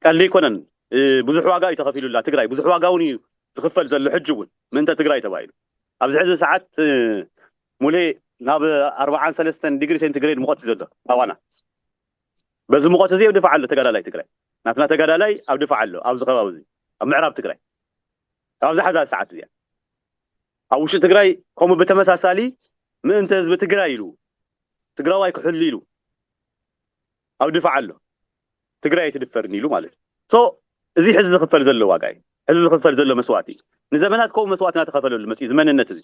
ቀልዲ ኣይኮነን ብዙሕ ዋጋ እዩ ተኸፊሉላ ትግራይ ብዙሕ ዋጋ እውን እዩ ዝኽፈል ዘሎ ሕጂ እውን ምእንተ ትግራይ ተባሂሉ ኣብዚ ሕዚ ሰዓት ሙሌ ናብ ኣርብዓን ሰለስተን ዲግሪ ሴንቲግሬድ ሙቐት እዩ ዘሎ ኣዋና በዚ ሙቐት እዚ ኣብ ድፋዕ ኣሎ ተጋዳላይ ትግራይ ናትና ተጋዳላይ ኣብ ድፋዕ ኣሎ ኣብዚ ከባቢ እዚ ኣብ ምዕራብ ትግራይ ካብዛ ሓዛ ሰዓት እዚኣ ኣብ ውሽጢ ትግራይ ከምኡ ብተመሳሳሊ ምእንተ ህዝቢ ትግራይ ኢሉ ትግራዋይ ክሕሉ ኢሉ ኣብ ድፋዕ ኣሎ ትግራይ ኣይትድፈርን ኢሉ ማለት ሶ እዚ ሕዚ ዝኽፈል ዘሎ ዋጋ እዩ ሕዚ ዝኽፈል ዘሎ መስዋእቲ እዩ ንዘመናት ከምኡ መስዋእቲ እናተኸፈለሉ መፅኡ እዚ መንነት እዚ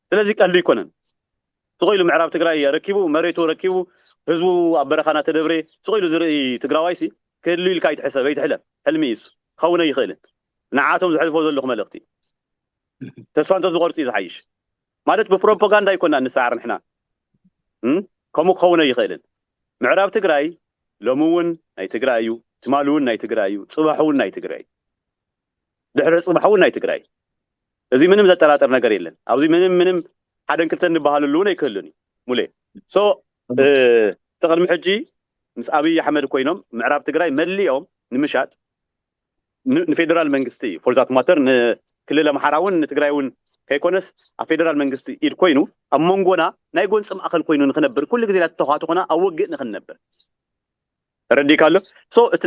ስለዚ ቀልዲ ኣይኮነን ስቕ ኢሉ ምዕራብ ትግራይ ኣረኪቡ መሬቱ ረኪቡ ህዝቡ ኣብ በረኻ እናተደብረ ስቕ ኢሉ ዝርኢ ትግራዋይሲ ክህሉ ኢልካ ኣይትሕሰብ ኣይትሕለም ሕልሚ እዩ እሱ ክኸውን ኣይኽእልን ንዓኣቶም ዘሕልፎ ዘለኹ መልእኽቲ ተስፋ እንተዝቆርጽ እዩ ዝሓይሽ ማለት ብፕሮፖጋንዳ ኣይኮናን ንሰዓር ንሕና ከምኡ ክኸውን ኣይኽእልን ምዕራብ ትግራይ ሎሚ እውን ናይ ትግራይ እዩ ትማሊ እውን ናይ ትግራይ እዩ ጽባሕ እውን ናይ ትግራይ እዩ ድሕሪ ጽባሕ እውን ናይ ትግራይ እዩ እዚ ምንም ዘጠራጥር ነገር የለን ኣብዚ ምንም ምንም ሓደን ክልተን ንበሃለሉ እውን ኣይክህሉን እዩ ሙሌ ሶ እቲ ቅድሚ ሕጂ ምስ ኣብይ ኣሕመድ ኮይኖም ምዕራብ ትግራይ መሊኦም ንምሻጥ ንፌደራል መንግስቲ እዩ ፎርዛት ማተር ንክልል ኣምሓራ እውን ንትግራይ እውን ከይኮነስ ኣብ ፌደራል መንግስቲ ኢድ ኮይኑ ኣብ መንጎና ናይ ጎንፂ ማእኸል ኮይኑ ንክነብር ኩሉ ግዜ ናተተኳትኾና ኣብ ወግእ ንክንነብር ተረዲካ ኣሎ ሶ እቲ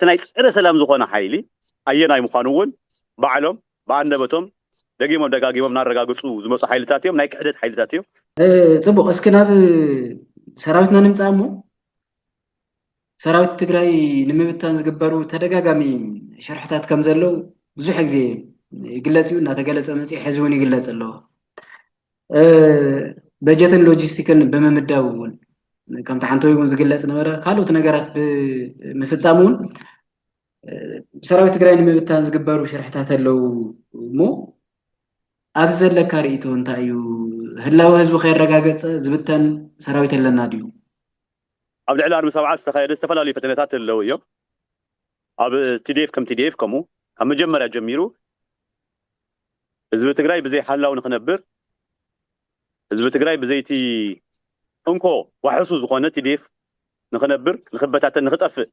ናይ ፀረ ሰላም ዝኾነ ሓይሊ ኣየናይ ምዃኑ እውን ባዕሎም ብኣንደበቶም ደጊሞም ደጋጊሞም እናረጋግፁ ዝመፁ ሓይልታት እዮም ናይ ክሕደት ሓይልታት እዮም ፅቡቅ እስኪ ናብ ሰራዊትና ንምፃእ እሞ ሰራዊት ትግራይ ንምብታን ዝግበሩ ተደጋጋሚ ሽርሕታት ከም ዘለው ብዙሕ ግዜ ይግለፅ እዩ እናተገለፀ መፅኡ ሕዚ እውን ይግለፅ ኣሎ በጀትን ሎጂስቲክን ብምምዳብ እውን ከምቲ ሓንቲ ወይ እውን ዝግለፅ ነበረ ካልኦት ነገራት ብምፍፃም እውን ሰራዊት ትግራይ ንምብታን ዝግበሩ ሽርሕታት ኣለው እሞ ኣብዚ ዘለካ ርእቶ እንታይ እዩ ህላወ ህዝቢ ከይረጋገፀ ዝብተን ሰራዊት ኣለና ድዩ ኣብ ልዕሊ ኣርሚ ሰብዓ ዝተኻየደ ዝተፈላለዩ ፈተነታት ዘለዉ እዮም። ኣብ tdf ከም tdf ከምኡ ካብ መጀመርያ ጀሚሩ ህዝቢ ትግራይ ብዘይ ሓላው ንክነብር ህዝቢ ትግራይ ብዘይቲ እንኮ ዋሕሱ ዝኾነ tdf ንክነብር ንክበታተን ንክጠፍእ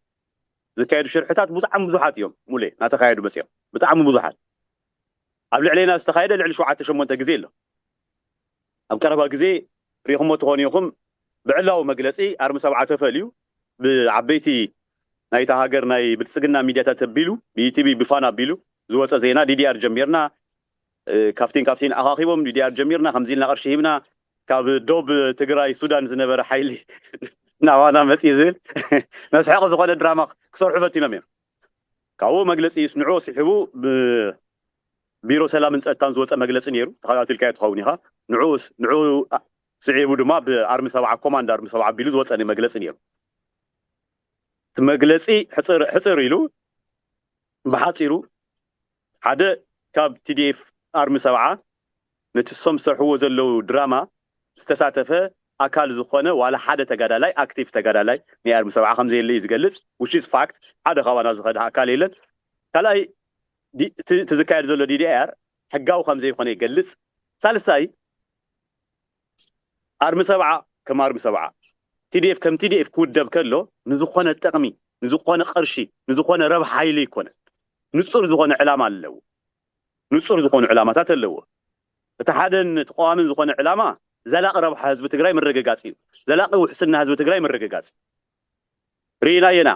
ዝካየዱ ሽርሕታት ብጣዕሚ ብዙሓት እዮም ሙሌ ናተኻየዱ መፅኦም ብጣዕሚ ብዙሓት ኣብ ልዕሌና ዝተኻየደ ልዕሊ ሸውዓተ ሸሞንተ ግዜ ኣሎ። ኣብ ቀረባ ግዜ ርኢኹሞ ትኾኑ ኢኹም ብዕላዊ መግለጺ ኣርሚ ሰብዓ ተፈልዩ ብዓበይቲ ናይታ ሃገር ናይ ብልጽግና ሚድያታት ኣቢሉ ብኢቲቪ ብፋና ኣቢሉ ዝወጸ ዜና ዲዲኣር ጀሚርና ካፍቲን ካፍቲን ኣኻኺቦም ዲዲኣር ጀሚርና ከምዚ ኢልና ቅርሺ ሂብና ካብ ዶብ ትግራይ ሱዳን ዝነበረ ሓይሊ ናባና መጽዩ ዝብል መስሐቂ ዝኾነ ድራማ ክሰርሑ ፈቲኖም እዮም ካብኡ መግለጺ ይስንዑ ሲሕቡ ብ ቢሮ ሰላምን ጸጥታን ዝወጸ መግለጺ ነይሩ ተኸታቲልካዮ ትኸውን ኢኻ ንዕኡ ስዒቡ ድማ ብ ኣርሚ ሰብዓ ኮማንድ ኣርሚ ሰብዓ ኣቢሉ ዝወጸ መግለጺ ነይሩ እቲ መግለጺ ሕጽር ኢሉ ብሓጺሩ ሓደ ካብ tdf ኣርሚ ሰብዓ ነቲ እሶም ዝሰርሕዎ ዘለዉ ድራማ ዝተሳተፈ ኣካል ዝኾነ ዋላ ሓደ ተጋዳላይ ኣክቲቭ ተጋዳላይ ናይ ኣርሚ ሰብዓ ከምዘየለ እዩ ዝገልጽ which is fact ሓደ ካባና ዝኸደ ኣካል የለን ካልኣይ እቲ እቲ ዝካየድ ዘሎ ዲዲኣር ሕጋዊ ከምዘይኮነ ይገልጽ። ሳልሳይ፣ ኣርሚ ሰብዓ ከም ኣርሚ ሰብዓ፣ ቲዲኤፍ ከም ቲዲኤፍ ክውደብ ከሎ ንዝኾነ ጥቕሚ፣ ንዝኾነ ቅርሺ፣ ንዝኾነ ረብሓ ኢሉ ኣይኮነን። ንጹር ዝኾነ ዕላማ ኣለዎ። ንጹር ዝኾኑ ዕላማታት ኣለዎ። እቲ ሓደን እቲ ቀዋምን ዝኾነ ዕላማ ዘላቒ ረብሓ ህዝቢ ትግራይ ምርግጋጽ እዩ። ዘላቒ ውሕስና ህዝቢ ትግራይ ምርግጋጽ እዩ። ሪኢናዮ ኢና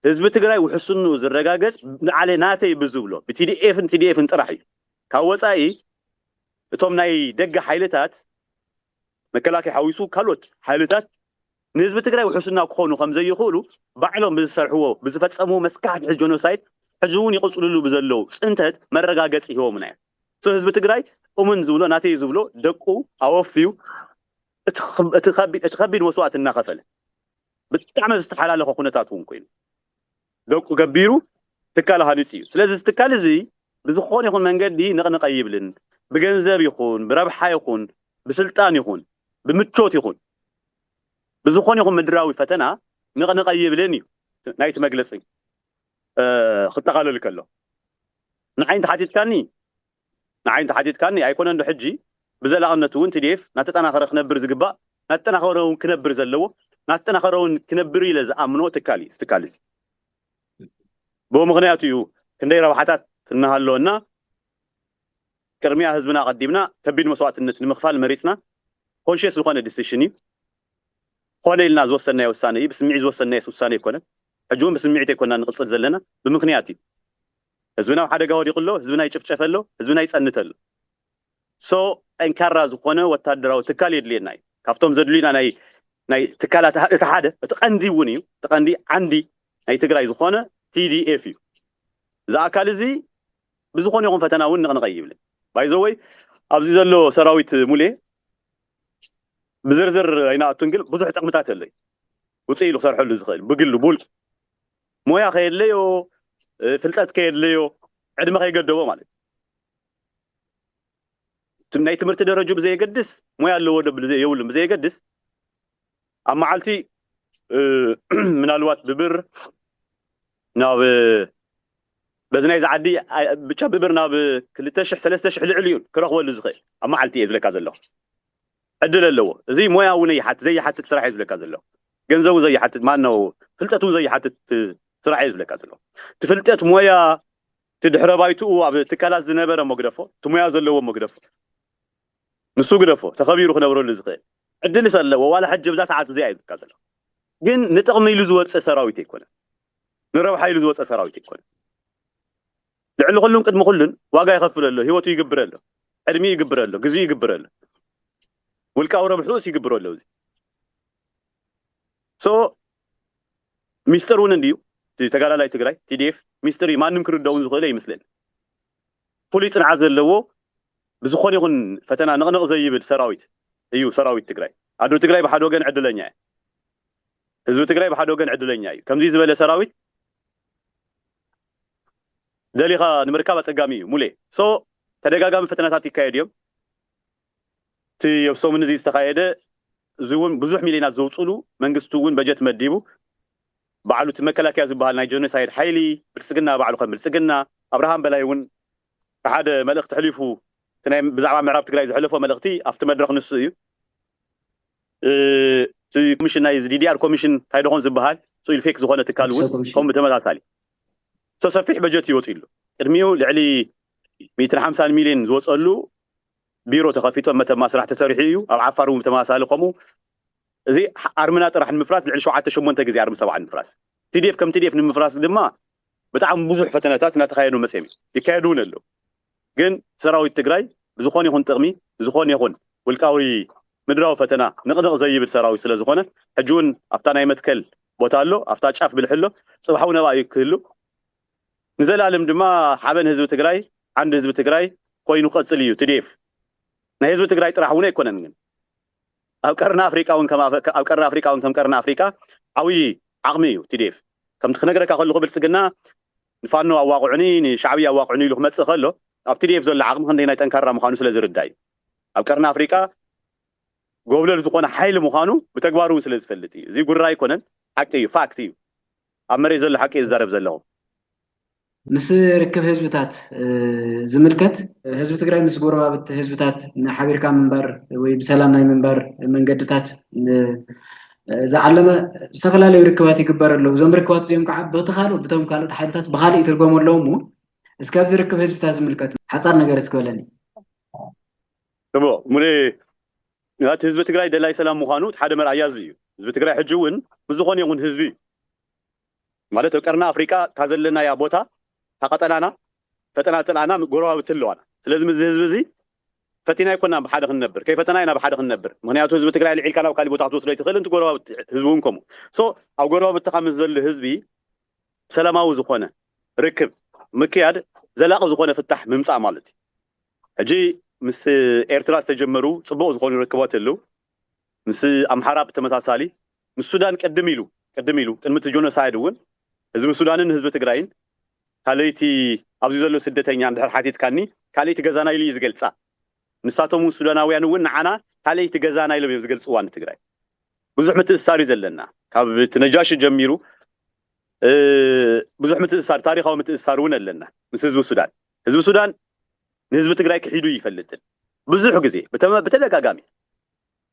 ህዝቢ ትግራይ ውሕስንኡ ዝረጋገፅ ንዓሌ ናተይ ብዝብሎ ብቲዲኤፍ ን ቲዲኤፍ ን ጥራሕ እዩ ካብ ወፃኢ እቶም ናይ ደገ ሓይልታት መከላከያ ሓዊሱ ካልኦት ሓይልታት ንህዝቢ ትግራይ ውሕስና ክኾኑ ከምዘይኽእሉ ባዕሎም ብዝሰርሕዎ ብዝፈፀምዎ መስካሕክሒ ጆኖሳይድ ሕዚ እውን ይቕፅልሉ ብዘለው ፅንተት መረጋገፂ ሂቦምና እዮም ህዝቢ ትግራይ እሙን ዝብሎ ናተይ ዝብሎ ደቁ ኣወፍዩ እቲ ከቢድ መስዋእቲ እናኸፈለ፣ ብጣዕሚ ኣብ ዝተሓላለኸ ኩነታት እውን ኮይኑ፣ ደቁ ገቢሩ ትካል ሃኒፁ እዩ። ስለዚ እዚ ትካል እዚ ብዝኾነ ይኹን መንገዲ ነቕነቕ ኣይብልን። ብገንዘብ ይኹን፣ ብረብሓ ይኹን፣ ብስልጣን ይኹን፣ ብምቾት ይኹን፣ ብዝኾነ ይኹን ምድራዊ ፈተና ነቕነቕ ኣይብልን እዩ ናይቲ መግለፂ ክጠቓለል ከሎ። ንዓይ እንተሓቲትካኒ፣ ንዓይ እንተሓቲትካኒ ኣይኮነን ዶ ሕጂ ብዘላቕነት እውን tdf ናተጠናኸረ ክነብር ዝግባእ ናተጠናኸረ እውን ክነብር ዘለዎ ናተጠናኸረ እውን ክነብር ኢለ ዝኣምኖ ትካል እዩ እዚ ትካል እዚ ብኡ ምኽንያት እዩ ክንደይ ረብሓታት እናሃለወና ቅድሚያ ህዝብና ኣቐዲምና ከቢድ መስዋእትነት ንምኽፋል መሪፅና ኮንሽየስ ዝኾነ ዲሲሽን እዩ ኮነ ኢልና ዝወሰናዮ ውሳነ እዩ ብስምዒት ዝወሰናዮስ ውሳነ ኣይኮነን ሕጂ እውን ብስምዒት ኣይኮናን ንቕፅል ዘለና ብምኽንያት እዩ ህዝብና ኣብ ሓደጋ ወዲቁ ኣሎ ህዝብና ይጭፍጨፈ ኣሎ ህዝብና ይጸንት ኣሎ so ጠንካራ ዝኾነ ወታደራዊ ትካል የድልየና እዩ ካብቶም ዘድልዩና ናይ ናይ ትካላት እቲ ሓደ እቲ ቀንዲ እውን እዩ እቲ ቀንዲ ዓንዲ ናይ ትግራይ ዝኾነ TDF እዩ እዚ ኣካል እዚ ብዝኾነ ይኹን ፈተና እውን ንቕንቐ ይብልን ባይዘወይ ኣብዚ ዘሎ ሰራዊት ሙሌ ብዝርዝር ኣይናኣቱን ግን ብዙሕ ጥቕምታት ኣለዩ ውፅእ ኢሉ ክሰርሐሉ ዝኽእል ብግሉ ብውልቁ ሞያ ከየድለዮ ፍልጠት ከየድለዮ ዕድመ ከይገደቦ ማለት እዩ ናይ ትምህርቲ ደረጁ ብዘየገድስ ሞያ ኣለዎ ዶ የብሉን ብዘየገድስ ኣብ መዓልቲ ምናልባት ብብር ናብ በዚ ናይዚ ዓዲ ብቻ ብብር ናብ ክልተ ሽሕ ሰለስተ ሽሕ ልዕሊ እዩን ክረኽበሉ ዝኽእል ኣብ መዓልቲ እየ ዝብለካ ዘለኹ ዕድል ኣለዎ እዚ ሞያ እውን ይሓት ዘይሓትት ስራሕ እየ ዝብለካ ዘለኹ ገንዘቡ ዘይሓትት ማነው ፍልጠት እውን ዘይሓትት ስራሕ እየ ዝብለካ ዘለኹ እቲ ፍልጠት ሞያ እቲ ድሕረ ባይትኡ ኣብ ትካላት ዝነበረ መግደፎ እቲ ሞያ ዘለዎ መግደፎ ንሱ ግደፎ ተኸቢሩ ክነብረሉ ዝኽእል ዕድልስ ኣለዎ ዋላ ሕጂ ብዛ ሰዓት እዚኣ እየ ዝብለካ ዘለኹ ግን ንጥቕሚ ኢሉ ዝወፀ ሰራዊት ኣይኮነን ንረብሓ ኢሉ ዝወፀ ሰራዊት ኣይኮነን ልዕሊ ኩሉን ቅድሚ ኩሉን ዋጋ ይኸፍል ኣሎ ሂወቱ ይግብር ኣሎ ዕድሚኡ ይግብር ኣሎ ግዚኡ ይግብር ኣሎ ውልቃዊ ረብሕኡስ ይግብሮ ኣሎ እዚ ሶ ሚስጥር እውን እንድዩ እቲ ተጋዳላይ ትግራይ ቲዲኤፍ ሚስጥር እዩ ማንም ክርደኡ ዝኽእለ ይመስለኒ ፍሉይ ፅንዓት ዘለዎ ብዝኾነ ይኹን ፈተና ንቕንቕ ዘይብል ሰራዊት እዩ ሰራዊት ትግራይ ኣዶ ትግራይ ብሓደ ወገን ዕድለኛ እያ ህዝቢ ትግራይ ብሓደ ወገን ዕድለኛ እዩ ከምዚ ዝበለ ሰራዊት ደሊኻ ንምርካብ ኣጸጋሚ እዩ ሙሌ so ተደጋጋሚ ፈተነታት ይካየዱ እዮም እቲ ኣብ ሰሙን እዚ ዝተኻየደ እዚ እውን ብዙሕ ሚልዮናት ዘውጽሉ መንግስቲ እውን በጀት መዲቡ ባዕሉ እቲ መከላከያ ዝበሃል ናይ ጀኖሳይድ ሓይሊ ብልጽግና ባዕሉ ከም ብልጽግና ኣብርሃም በላይ እውን ሓደ መልእኽቲ ሕሊፉ እቲ ናይ ብዛዕባ ምዕራብ ትግራይ ዘሕለፎ መልእኽቲ ኣብቲ መድረኽ ንሱ እዩ እቲ ኮሚሽን ናይ ዲዲኣር ኮሚሽን እንታይ ደኾን ዝበሃል ፅኢሉ ፌክ ዝኾነ ትካል እውን ከምኡ ብተመሳሳሊ ሰሰፊሕ በጀት እዩ ወፂሉ ቅድሚኡ ልዕሊ ሚእትን ሓምሳን ሚሊዮን ዝወፀሉ ቢሮ ተኸፊቶ መተማ ስራሕ ተሰሪሑ እዩ ኣብ ዓፋር እውን ብተመሳሳሊ ከምኡ እዚ ኣርምና ጥራሕ ንምፍራስ ልዕሊ ሸውዓተ ሸሞንተ ግዜ ኣርሚ ሰብዓ ንምፍራስ ቲዲኤፍ ከም ቲዲኤፍ ንምፍራስ ድማ ብጣዕሚ ብዙሕ ፈተነታት እናተኻየዱ መፅም ይካየዱ እውን ኣለዉ ግን ሰራዊት ትግራይ ብዝኾነ ይኹን ጥቕሚ ንዝኾነ ይኹን ውልቃዊ ምድራዊ ፈተና ንቕንቕ ዘይብል ሰራዊት ስለዝኾነ ሕጂውን ኣብታ ናይ መትከል ቦታ ኣሎ ኣብታ ጫፍ ብልሒ ኣሎ ፅባሕውን ኣብኣ እዩ ክህሉ ንዘላለም ድማ ሓበን ህዝቢ ትግራይ ዓንዲ ህዝቢ ትግራይ ኮይኑ ክቐፅል እዩ tdf ናይ ህዝቢ ትግራይ ጥራሕ እውን ኣይኮነን ግን ኣብ ቀርኒ ኣፍሪቃ እውን ኣብ ቀርኒ ኣፍሪቃ እውን ከም ቀርኒ ኣፍሪቃ ዓብይ ዓቕሚ እዩ tdf ከምቲ ክነግረካ ከለኹ ብልፅግና ንፋኖ ኣዋቕዑኒ ንሻዕብያ ኣዋቕዑኒ ኢሉ ክመጽእ ከሎ ኣብ tdf ዘሎ ዓቕሚ ክንደየናይ ጠንካራ ምዃኑ ስለ ዝርዳእ እዩ። ኣብ ቀርኒ ኣፍሪቃ ጎብለል ዝኾነ ሓይሊ ምዃኑ ብተግባር እውን ስለ ዝፈልጥ እዩ። እዚ ጉራ ኣይኮነን ሓቂ እዩ ፋክት እዩ። ኣብ መሬት ዘሎ ሓቂ እየ ዝዛረብ ዘለኹ። ምስ ርክብ ህዝብታት ዝምልከት ህዝቢ ትግራይ ምስ ጎረባብቲ ህዝብታት ሓቢርካ ምንባር ወይ ብሰላም ናይ ምንባር መንገድታት ዝዓለመ ዝተፈላለዩ ርክባት ይግበር ኣለዉ እዞም ርክባት እዚኦም ከዓ በቲ ካልእ ብቶም ካልኦት ሓይልታት ብካልእ ይትርጎሙ ኣለዉ እሞ እስከ ኣብዚ ርክብ ህዝብታት ዝምልከት ሓፃር ነገር እስኪ በለኒ እሞ ሙሌ እቲ ህዝቢ ትግራይ ደላይ ሰላም ምዃኑ እቲ ሓደ መርኣያ እዚ እዩ ህዝቢ ትግራይ ሕጂ እውን ምስ ዝኾነ ይኹን ህዝቢ ማለት ኣብ ቀርኒ ኣፍሪቃ እታ ዘለናያ ቦታ እታ ቀጠናና ፈጠናተልኣና ጎረባብቲ ኣለዋና ስለዚ ምስዚ ህዝቢ እዚ ፈቲና ኣይኮናን ብሓደ ክንነብር ከይፈተና ኢና ብሓደ ክንነብር ምክንያቱ ህዝቢ ትግራይ ኣልዒልካ ናብ ካሊእ ቦታ ክትወስዶ ኣይትክእልን እቲ ጎረባብቲ ህዝቢ እውን ከምኡ so ኣብ ጎረባብትካ ምስ ዘሎ ህዝቢ ሰላማዊ ዝኮነ ርክብ ምክያድ ዘላቂ ዝኮነ ፍታሕ ምምፃእ ማለት እዩ ሕጂ ምስ ኤርትራ ዝተጀመሩ ፅቡቅ ዝኮኑ ርክባት ኣለው ምስ ኣምሓራ ብተመሳሳሊ ምስ ሱዳን ቅድም ኢሉ ቅድም ኢሉ ቅድሚ እቲ ጆኖሳይድ እውን ህዝቢ ሱዳንን ህዝቢ ትግራይን ካለይቲ ኣብዚ ዘሎ ስደተኛ እንድሕር ሓቲትካኒ ካለይቲ ገዛና ኢሉ እዩ ዝገልፃ ንሳቶም እውን ሱዳናውያን እውን ንዓና ካለይቲ ገዛና ኢሎም እዮም ዝገልፅዋ ንትግራይ ብዙሕ ምትእስሳር እዩ ዘለና ካብ እቲ ነጃሺ ጀሚሩ ብዙሕ ምትእስሳር ታሪኻዊ ምትእስሳር እውን ኣለና ምስ ህዝቢ ሱዳን ህዝቢ ሱዳን ንህዝቢ ትግራይ ክሒዱ ይፈልጥን ብዙሕ ግዜ ብተደጋጋሚ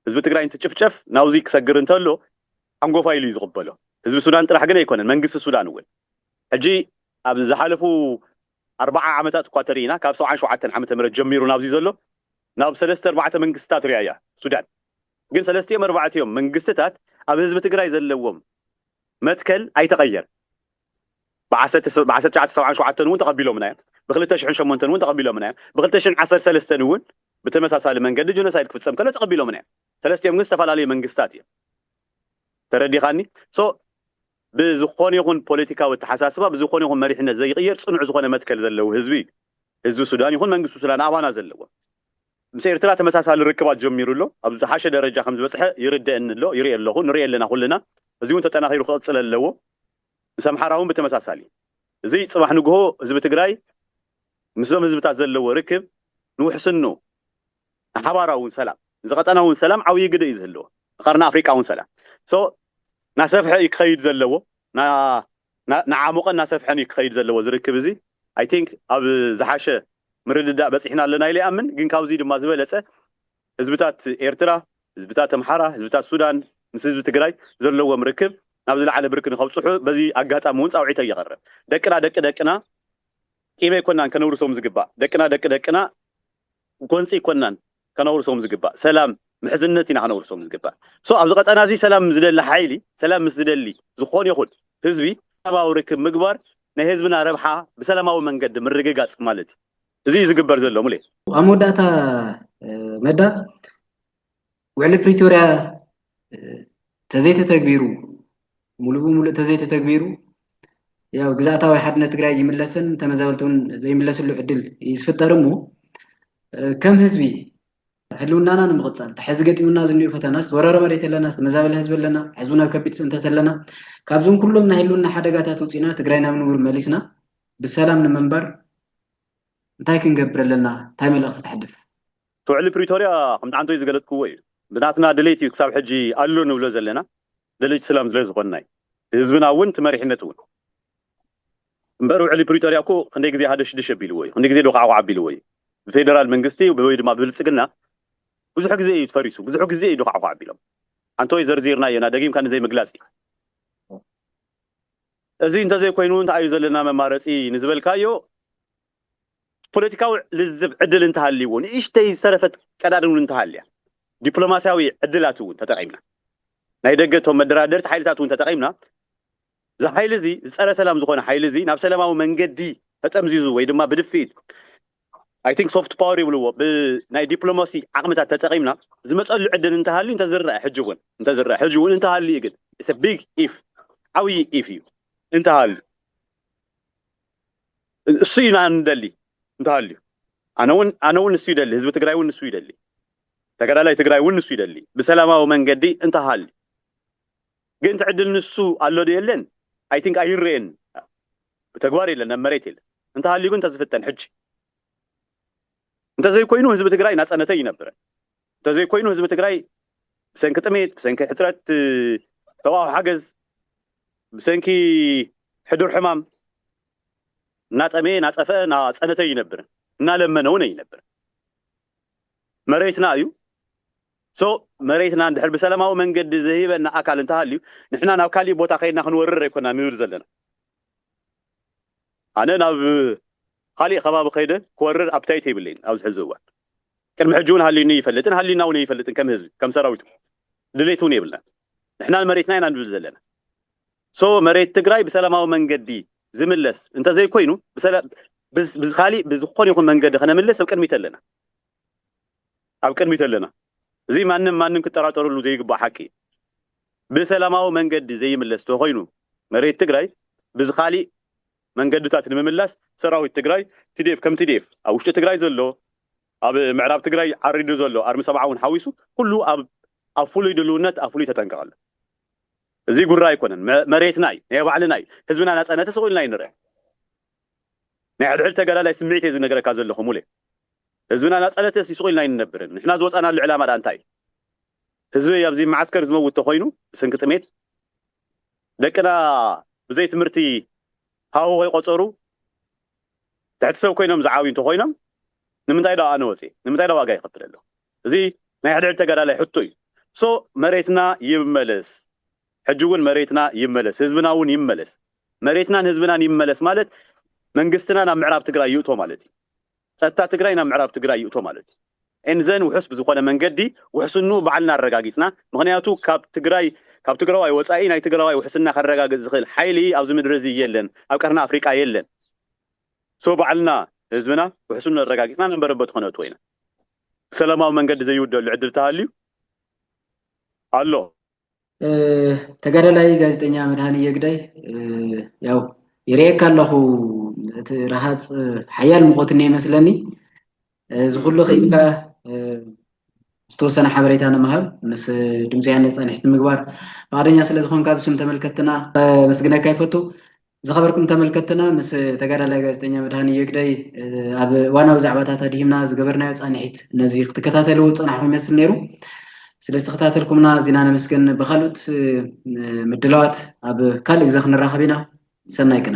ህዝቢ ትግራይ እንትጭፍጨፍ ናብዙይ ክሰግር እንተሎ ሓንጎፋይ ኢሉ እዩ ዝቕበሎ። ህዝቢ ሱዳን ጥራሕ ግን ኣይኮነን መንግስቲ ሱዳን እውን። ሕጂ ኣብ ዝሓለፉ ኣርባዓ ዓመታት እኳ ተሪኢና ካብ ሰብዓን ሸውዓተን ዓመተ ምህረት ጀሚሩ ናብዙይ ዘሎ ናብ ሰለስተ ኣርባዕተ መንግስትታት ሪኣ እያ ሱዳን። ግን ሰለስቲኦም ኣርባዕቲኦም መንግስትታት ኣብ ህዝቢ ትግራይ ዘለዎም መትከል ኣይተቐየረን። ብ ዓሰርተ ብ ዓሰርተ ትሽዓተ ሰብዓን ሸውዓተን እውን ተቐቢሎምና እዮም። ብ ክልተ ሽሕን ሸሞንተን እውን ተቐቢሎምና እዮም። ብ ክልተ ሽሕን ዓሰርተ ሰለስተን እውን ብተመሳሳሊ መንገዲ ጆኖሳይድ ክፍጸም ከሎ ተቐቢሎምና እዮም። ሰለስቲኦም ግን ዝተፈላለዩ መንግስታት እዮም። ተረዲኻኒ? so ብዝኾነ ይኹን ፖለቲካዊ ኣተሓሳስባ ብዝኾነ ይኹን መሪሕነት ዘይቕየር ጽኑዕ ዝኾነ መትከል ዘለዎ ህዝቢ እዩ ህዝቢ ሱዳን ይኹን መንግስቲ ሱዳን ኣባና ዘለዎም። ምስ ኤርትራ ተመሳሳሊ ርክባት ጀሚሩ ኣሎ። ኣብ ዝሓሸ ደረጃ ከም ዝበጽሐ ይርደእኒ ኣሎ፣ ይርኢ ኣለኹ፣ ንርኢ ኣለና ኩልና። እዚ'ውን ተጠናኺሩ ክቕጽል ኣለዎ። ምስ ኣምሓራ'ውን ብተመሳሳሊ። እዚ ጽባሕ ንግሆ ህዝቢ ትግራይ ምስዞም ህዝብታት ዘለዎ ርክብ ንውሕስንኡ፣ ንሓባራዊ ሰላም፣ እዚ ቀጠና'ውን ሰላም ዓብይ ግደ እዩ ዝህልዎ፣ ንቀርኒ ኣፍሪቃ'ውን ሰላም። So፣ እናሰፍሐ እዩ ክኸይድ ዘለዎ፣ እናዓሞቐን እናሰፍሐን እዩ ክኸይድ ዘለዎ እዚ ርክብ እዚ i think ኣብ ዝሓሸ ምርድዳእ በጺሕና ኣለና ኢለ ይኣምን ግን ካብዚ ድማ ዝበለጸ ህዝብታት ኤርትራ ህዝብታት ኣምሓራ ህዝብታት ሱዳን ምስ ህዝቢ ትግራይ ዘለዎም ርክብ ናብ ዝለዓለ ብርኪ ንኸብጽሑ በዚ ኣጋጣሚ ውን ጻውዒተይ የቕርብ ደቅና ደቂ ደቅና ቂም ኣይኮናን ከነውርሶም ዝግባእ ደቅና ደቂ ደቅና ጎንጺ ኣይኮናን ከነውርሶም ዝግባእ ሰላም ምሕዝነት ኢና ከነውርሶም ዝግባእ so ኣብዚ ቀጠና እዚ ሰላም ዝደሊ ሓይሊ ሰላም ምስ ዝደሊ ዝኾን ይኹን ህዝቢ ሰላማዊ ርክብ ምግባር ናይ ህዝብና ረብሓ ብሰላማዊ መንገዲ ምርግጋጽ ማለት እዩ እዚ እዩ ዝግበር ዘሎ ሙሌ ኣብ መወዳእታ መዳ ውዕሊ ፕሪቶርያ ተዘይተተግቢሩ ሙሉእ ብሙሉእ ተዘይተተግቢሩ ያው ግዝኣታዊ ሓድነት ትግራይ ይምለስን ተመዛበልቲ እውን ዘይምለስሉ ዕድል እዩ ዝፍጠር እሞ ከም ህዝቢ ህልውናና ንምቕፃል ተሐዚ ገጢሙና ዝኒኡ ፈተና ዝተወረረ መሬት ኣለና ዝተመዛበለ ህዝቢ ኣለና ሕዚ ናብ ከቢድ ፅንተት ኣለና ካብዞም ኩሎም ናይ ህልውና ሓደጋታት ውፅኢና ትግራይ ናብ ንቡር መሊስና ብሰላም ንምንባር እንታይ ክንገብር ኣለና እንታይ መልእኽቲ ተሕልፍ ብውዕሊ ፕሪቶርያ ከም ዳዓንቶይ ዝገለፅክዎ እዩ። ብናትና ድሌት እዩ ክሳብ ሕጂ ኣሎ ንብሎ ዘለና። ደለይቲ ስላም ስለ ዝኾንና እዩ። እቲ ህዝብና እውን እቲ መሪሕነት እውን። እምበር ውዕሊ ፕሪቶርያ እኮ ክንደይ ግዜ ሃደሽድሽ ኣቢልዎ እዩ። ክንደይ ግዜ ዶኻዕዃዕ ኣቢልዎ እዩ። ብፌደራል መንግስቲ ወይ ድማ ብብልፅግና ብዙሕ ግዜ እዩ ፈሪሱ። ብዙሕ ግዜ እዩ ዶኻዕዃዕ ኣቢሎም። ኣንቶይ ዘርዚርናዮ ኢና ደጊምካ ንዘይምግላፅ እዩ። እዚ እንተዘይኮይኑ እንታይ እዩ ዘለና መማረፂ ንዝበልካዮ ፖለቲካዊ ልዝብ ዕድል እንተሃልይዎ፣ ንእሽተይ ዝተረፈት ቀዳድን እውን እንተሃልያ፣ ዲፕሎማሲያዊ ዕድላት እውን ተጠቒምና፣ ናይ ደገ እቶም መደራደርቲ ሓይልታት እውን ተጠቒምና፣ እዚ ሓይሊ እዚ ዝጸረ ሰላም ዝኾነ ሓይሊ እዚ ናብ ሰላማዊ መንገዲ ተጠምዚዙ ወይ ድማ ብድፍኢት I think soft power ይብልዎ ብናይ ዲፕሎማሲ ዓቕምታት ተጠቒምና ዝመጸሉ ዕድል እንተሃልዩ እንተዝረኣ ሕጂ እውን እንተዝረኣ ሕጂ እውን እንተሃልዩ ግን it's a big if ዓብዪ if እዩ እንተሃልዩ እሱ ኢና እንደሊ እንተሃልዩ ኣነውን ኣነውን ንሱ ይደሊ ህዝቢ ትግራይ እውን ንሱ ይደሊ ተጋዳላይ ትግራይ እውን ንሱ ይደሊ ብሰላማዊ መንገዲ እንተሃልዩ ግን ትዕድል ንሱ ኣሎ ዶ የለን ኣይ ቲንክ ኣይረኤን ብተግባር የለን ኣብ መሬት የለን እንተሃልዩ ግን ተዝፍተን ሕጂ እንተዘይኮይኑ ህዝቢ ትግራይ ናፀነተይ ይነብረን እንተዘይኮይኑ ህዝቢ ትግራይ ብሰንኪ ጥሜት፣ ብሰንኪ ሕፅረት ሰብኣዊ ሓገዝ፣ ብሰንኪ ሕዱር ሕማም እናጠመየ፣ እናፀፈኧ፣ እናፀነተ ኣይነብርን። እናለመነ እውን ኣይነብርን። መሬትና እዩ። ሶ መሬትና እንድሕር ብሰላማዊ መንገዲ ዘይህበና ኣካል እንተሃልዩ ንሕና ናብ ካሊእ ቦታ ከይድና ክንወርር ኣይኮናን ንብል ዘለና። ኣነ ናብ ኻሊእ ኸባቢ ኸይደ ክወርር ኣፕታይት የብለይን ኣብዚ ሕዚ እዋን ቅድሚ ሕጂ ውን ሃልዩኒ ኣይፈልጥን ሃልዩና ውን ኣይፈልጥን ከም ህዝቢ ከም ሰራዊት ውን ድሌት ውን የብልናን ንሕና ንመሬትና ኢና ንብል ዘለና so መሬት ትግራይ ብሰላማዊ መንገዲ ዝምለስ እንተዘይኮይኑ ብሰላ ብዝ ብዝኻሊእ ብዝኾነ ይኹን መንገዲ ኸነምልስ ኣብ ቅድሚት ኣለና። ኣብ ቅድሚት ኣለና። እዚ ማንም ማንም ክጠራጠረሉ ዘይግባእ ሓቂ እዩ። ብሰላማዊ መንገዲ ዘይምለስ ተኾይኑ መሬት ትግራይ ብዝኻሊእ መንገድታት ንምምላስ ሰራዊት ትግራይ tdf ከም tdf ኣብ ውሽጢ ትግራይ ዘሎ ኣብ ምዕራብ ትግራይ ዓሪዱ ዘሎ ኣርሚ ሰብዓ እውን ሓዊሱ ኩሉ ኣብ ኣብ ፍሉይ ድልውነት ኣብ ፍሉይ ተጠንቀቕ ኣሎ። እዚ ጉራ ኣይኮነን መሬትና እዩ ናይ ባዕልና እዩ ህዝብና ናፃነት ስቕ ኢልና እዩ ንርኣ። ናይ ሕድሕድ ተጋዳላይ ስምዒት እየ ዝነገረካ ዘለኹ ሙሌ። ህዝብና ናጻነትስ ይስቁኢልና ኣይንነብርን። ንሕና ዝወጻናሉ ዕላማ ድኣ እንታይ እዩ? ህዝበይ ኣብዚ መዓስከር ዝመውት ተኾይኑ ብሰንኪ ጥሜት፣ ደቅና ብዘይ ትምህርቲ ሃሁ ከይቆጸሩ ትሕቲ ሰብ ኮይኖም ዝዓብዩ እንተኾይኖም ንምንታይ ድኣ ኣነ ወጺኤ? ንምንታይ ድኣ ዋጋ ይኸፍል ኣለኹ? እዚ ናይ ሕድሕድ ተጋዳላይ ሕቶ እዩ። So መሬትና ይመለስ። ሕጂ ውን መሬትና ይመለስ ህዝብና ውን ይመለስ መሬትናን ህዝብናን ይመለስ ማለት መንግስትና ናብ ምዕራብ ትግራይ ይእቶ ማለት እዩ ፀጥታ ትግራይ ናብ ምዕራብ ትግራይ ይእቶ ማለት እዩ and then ውሑስ ብዝኾነ መንገዲ ውሕስንኡ ባዕልና ኣረጋጊፅና ምኽንያቱ ካብ ትግራይ ካብ ትግራዋይ ወፃኢ ናይ ትግራዋይ ውሕስና ከረጋግፅ ዝኽእል ሓይሊ ኣብዚ ምድሪ እዚ የለን ኣብ ቀርኒ ኣፍሪቃ የለን so ባዕልና ህዝብና ውሕስንኡ ኣረጋጊፅና ናብ መረበቱ ከነእትዎ ኢና ብሰላማዊ መንገዲ ዘይውደሉ ዕድል ተሃልዩ ኣሎ ተጋዳላይ ጋዜጠኛ መድሃኒየ ግዳይ ያው ይርእየካ ኣለኹ እቲ ረሃፅ ሓያል ሙቐት እኒኦ ይመስለኒ እዚ ኩሉ ክኢልካ ዝተወሰነ ሓበሬታ ንምሃብ ምስ ድምፂ ያነ ፃኒሕቲ ምግባር ፍቃደኛ ስለ ዝኾንካ ብስም ተመልከትና መስግነካ ይፈቱ ዝኸበርኩም ተመልከትና ምስ ተጋዳላይ ጋዜጠኛ መድሃንዮ ግደይ ኣብ ዋናዊ ዛዕባታት ኣድሂምና ዝገበርናዮ ፃንሒት ነዚ ክትከታተልዎ ዝፀናሕኹም ይመስል ነይሩ ስለ ዝተከታተልኩምና ኣዚና ነመስገን ብካልኦት ምድላዋት ኣብ ካልእ ግዜ ክንራኸብ ኢና ሰናይ ቅነ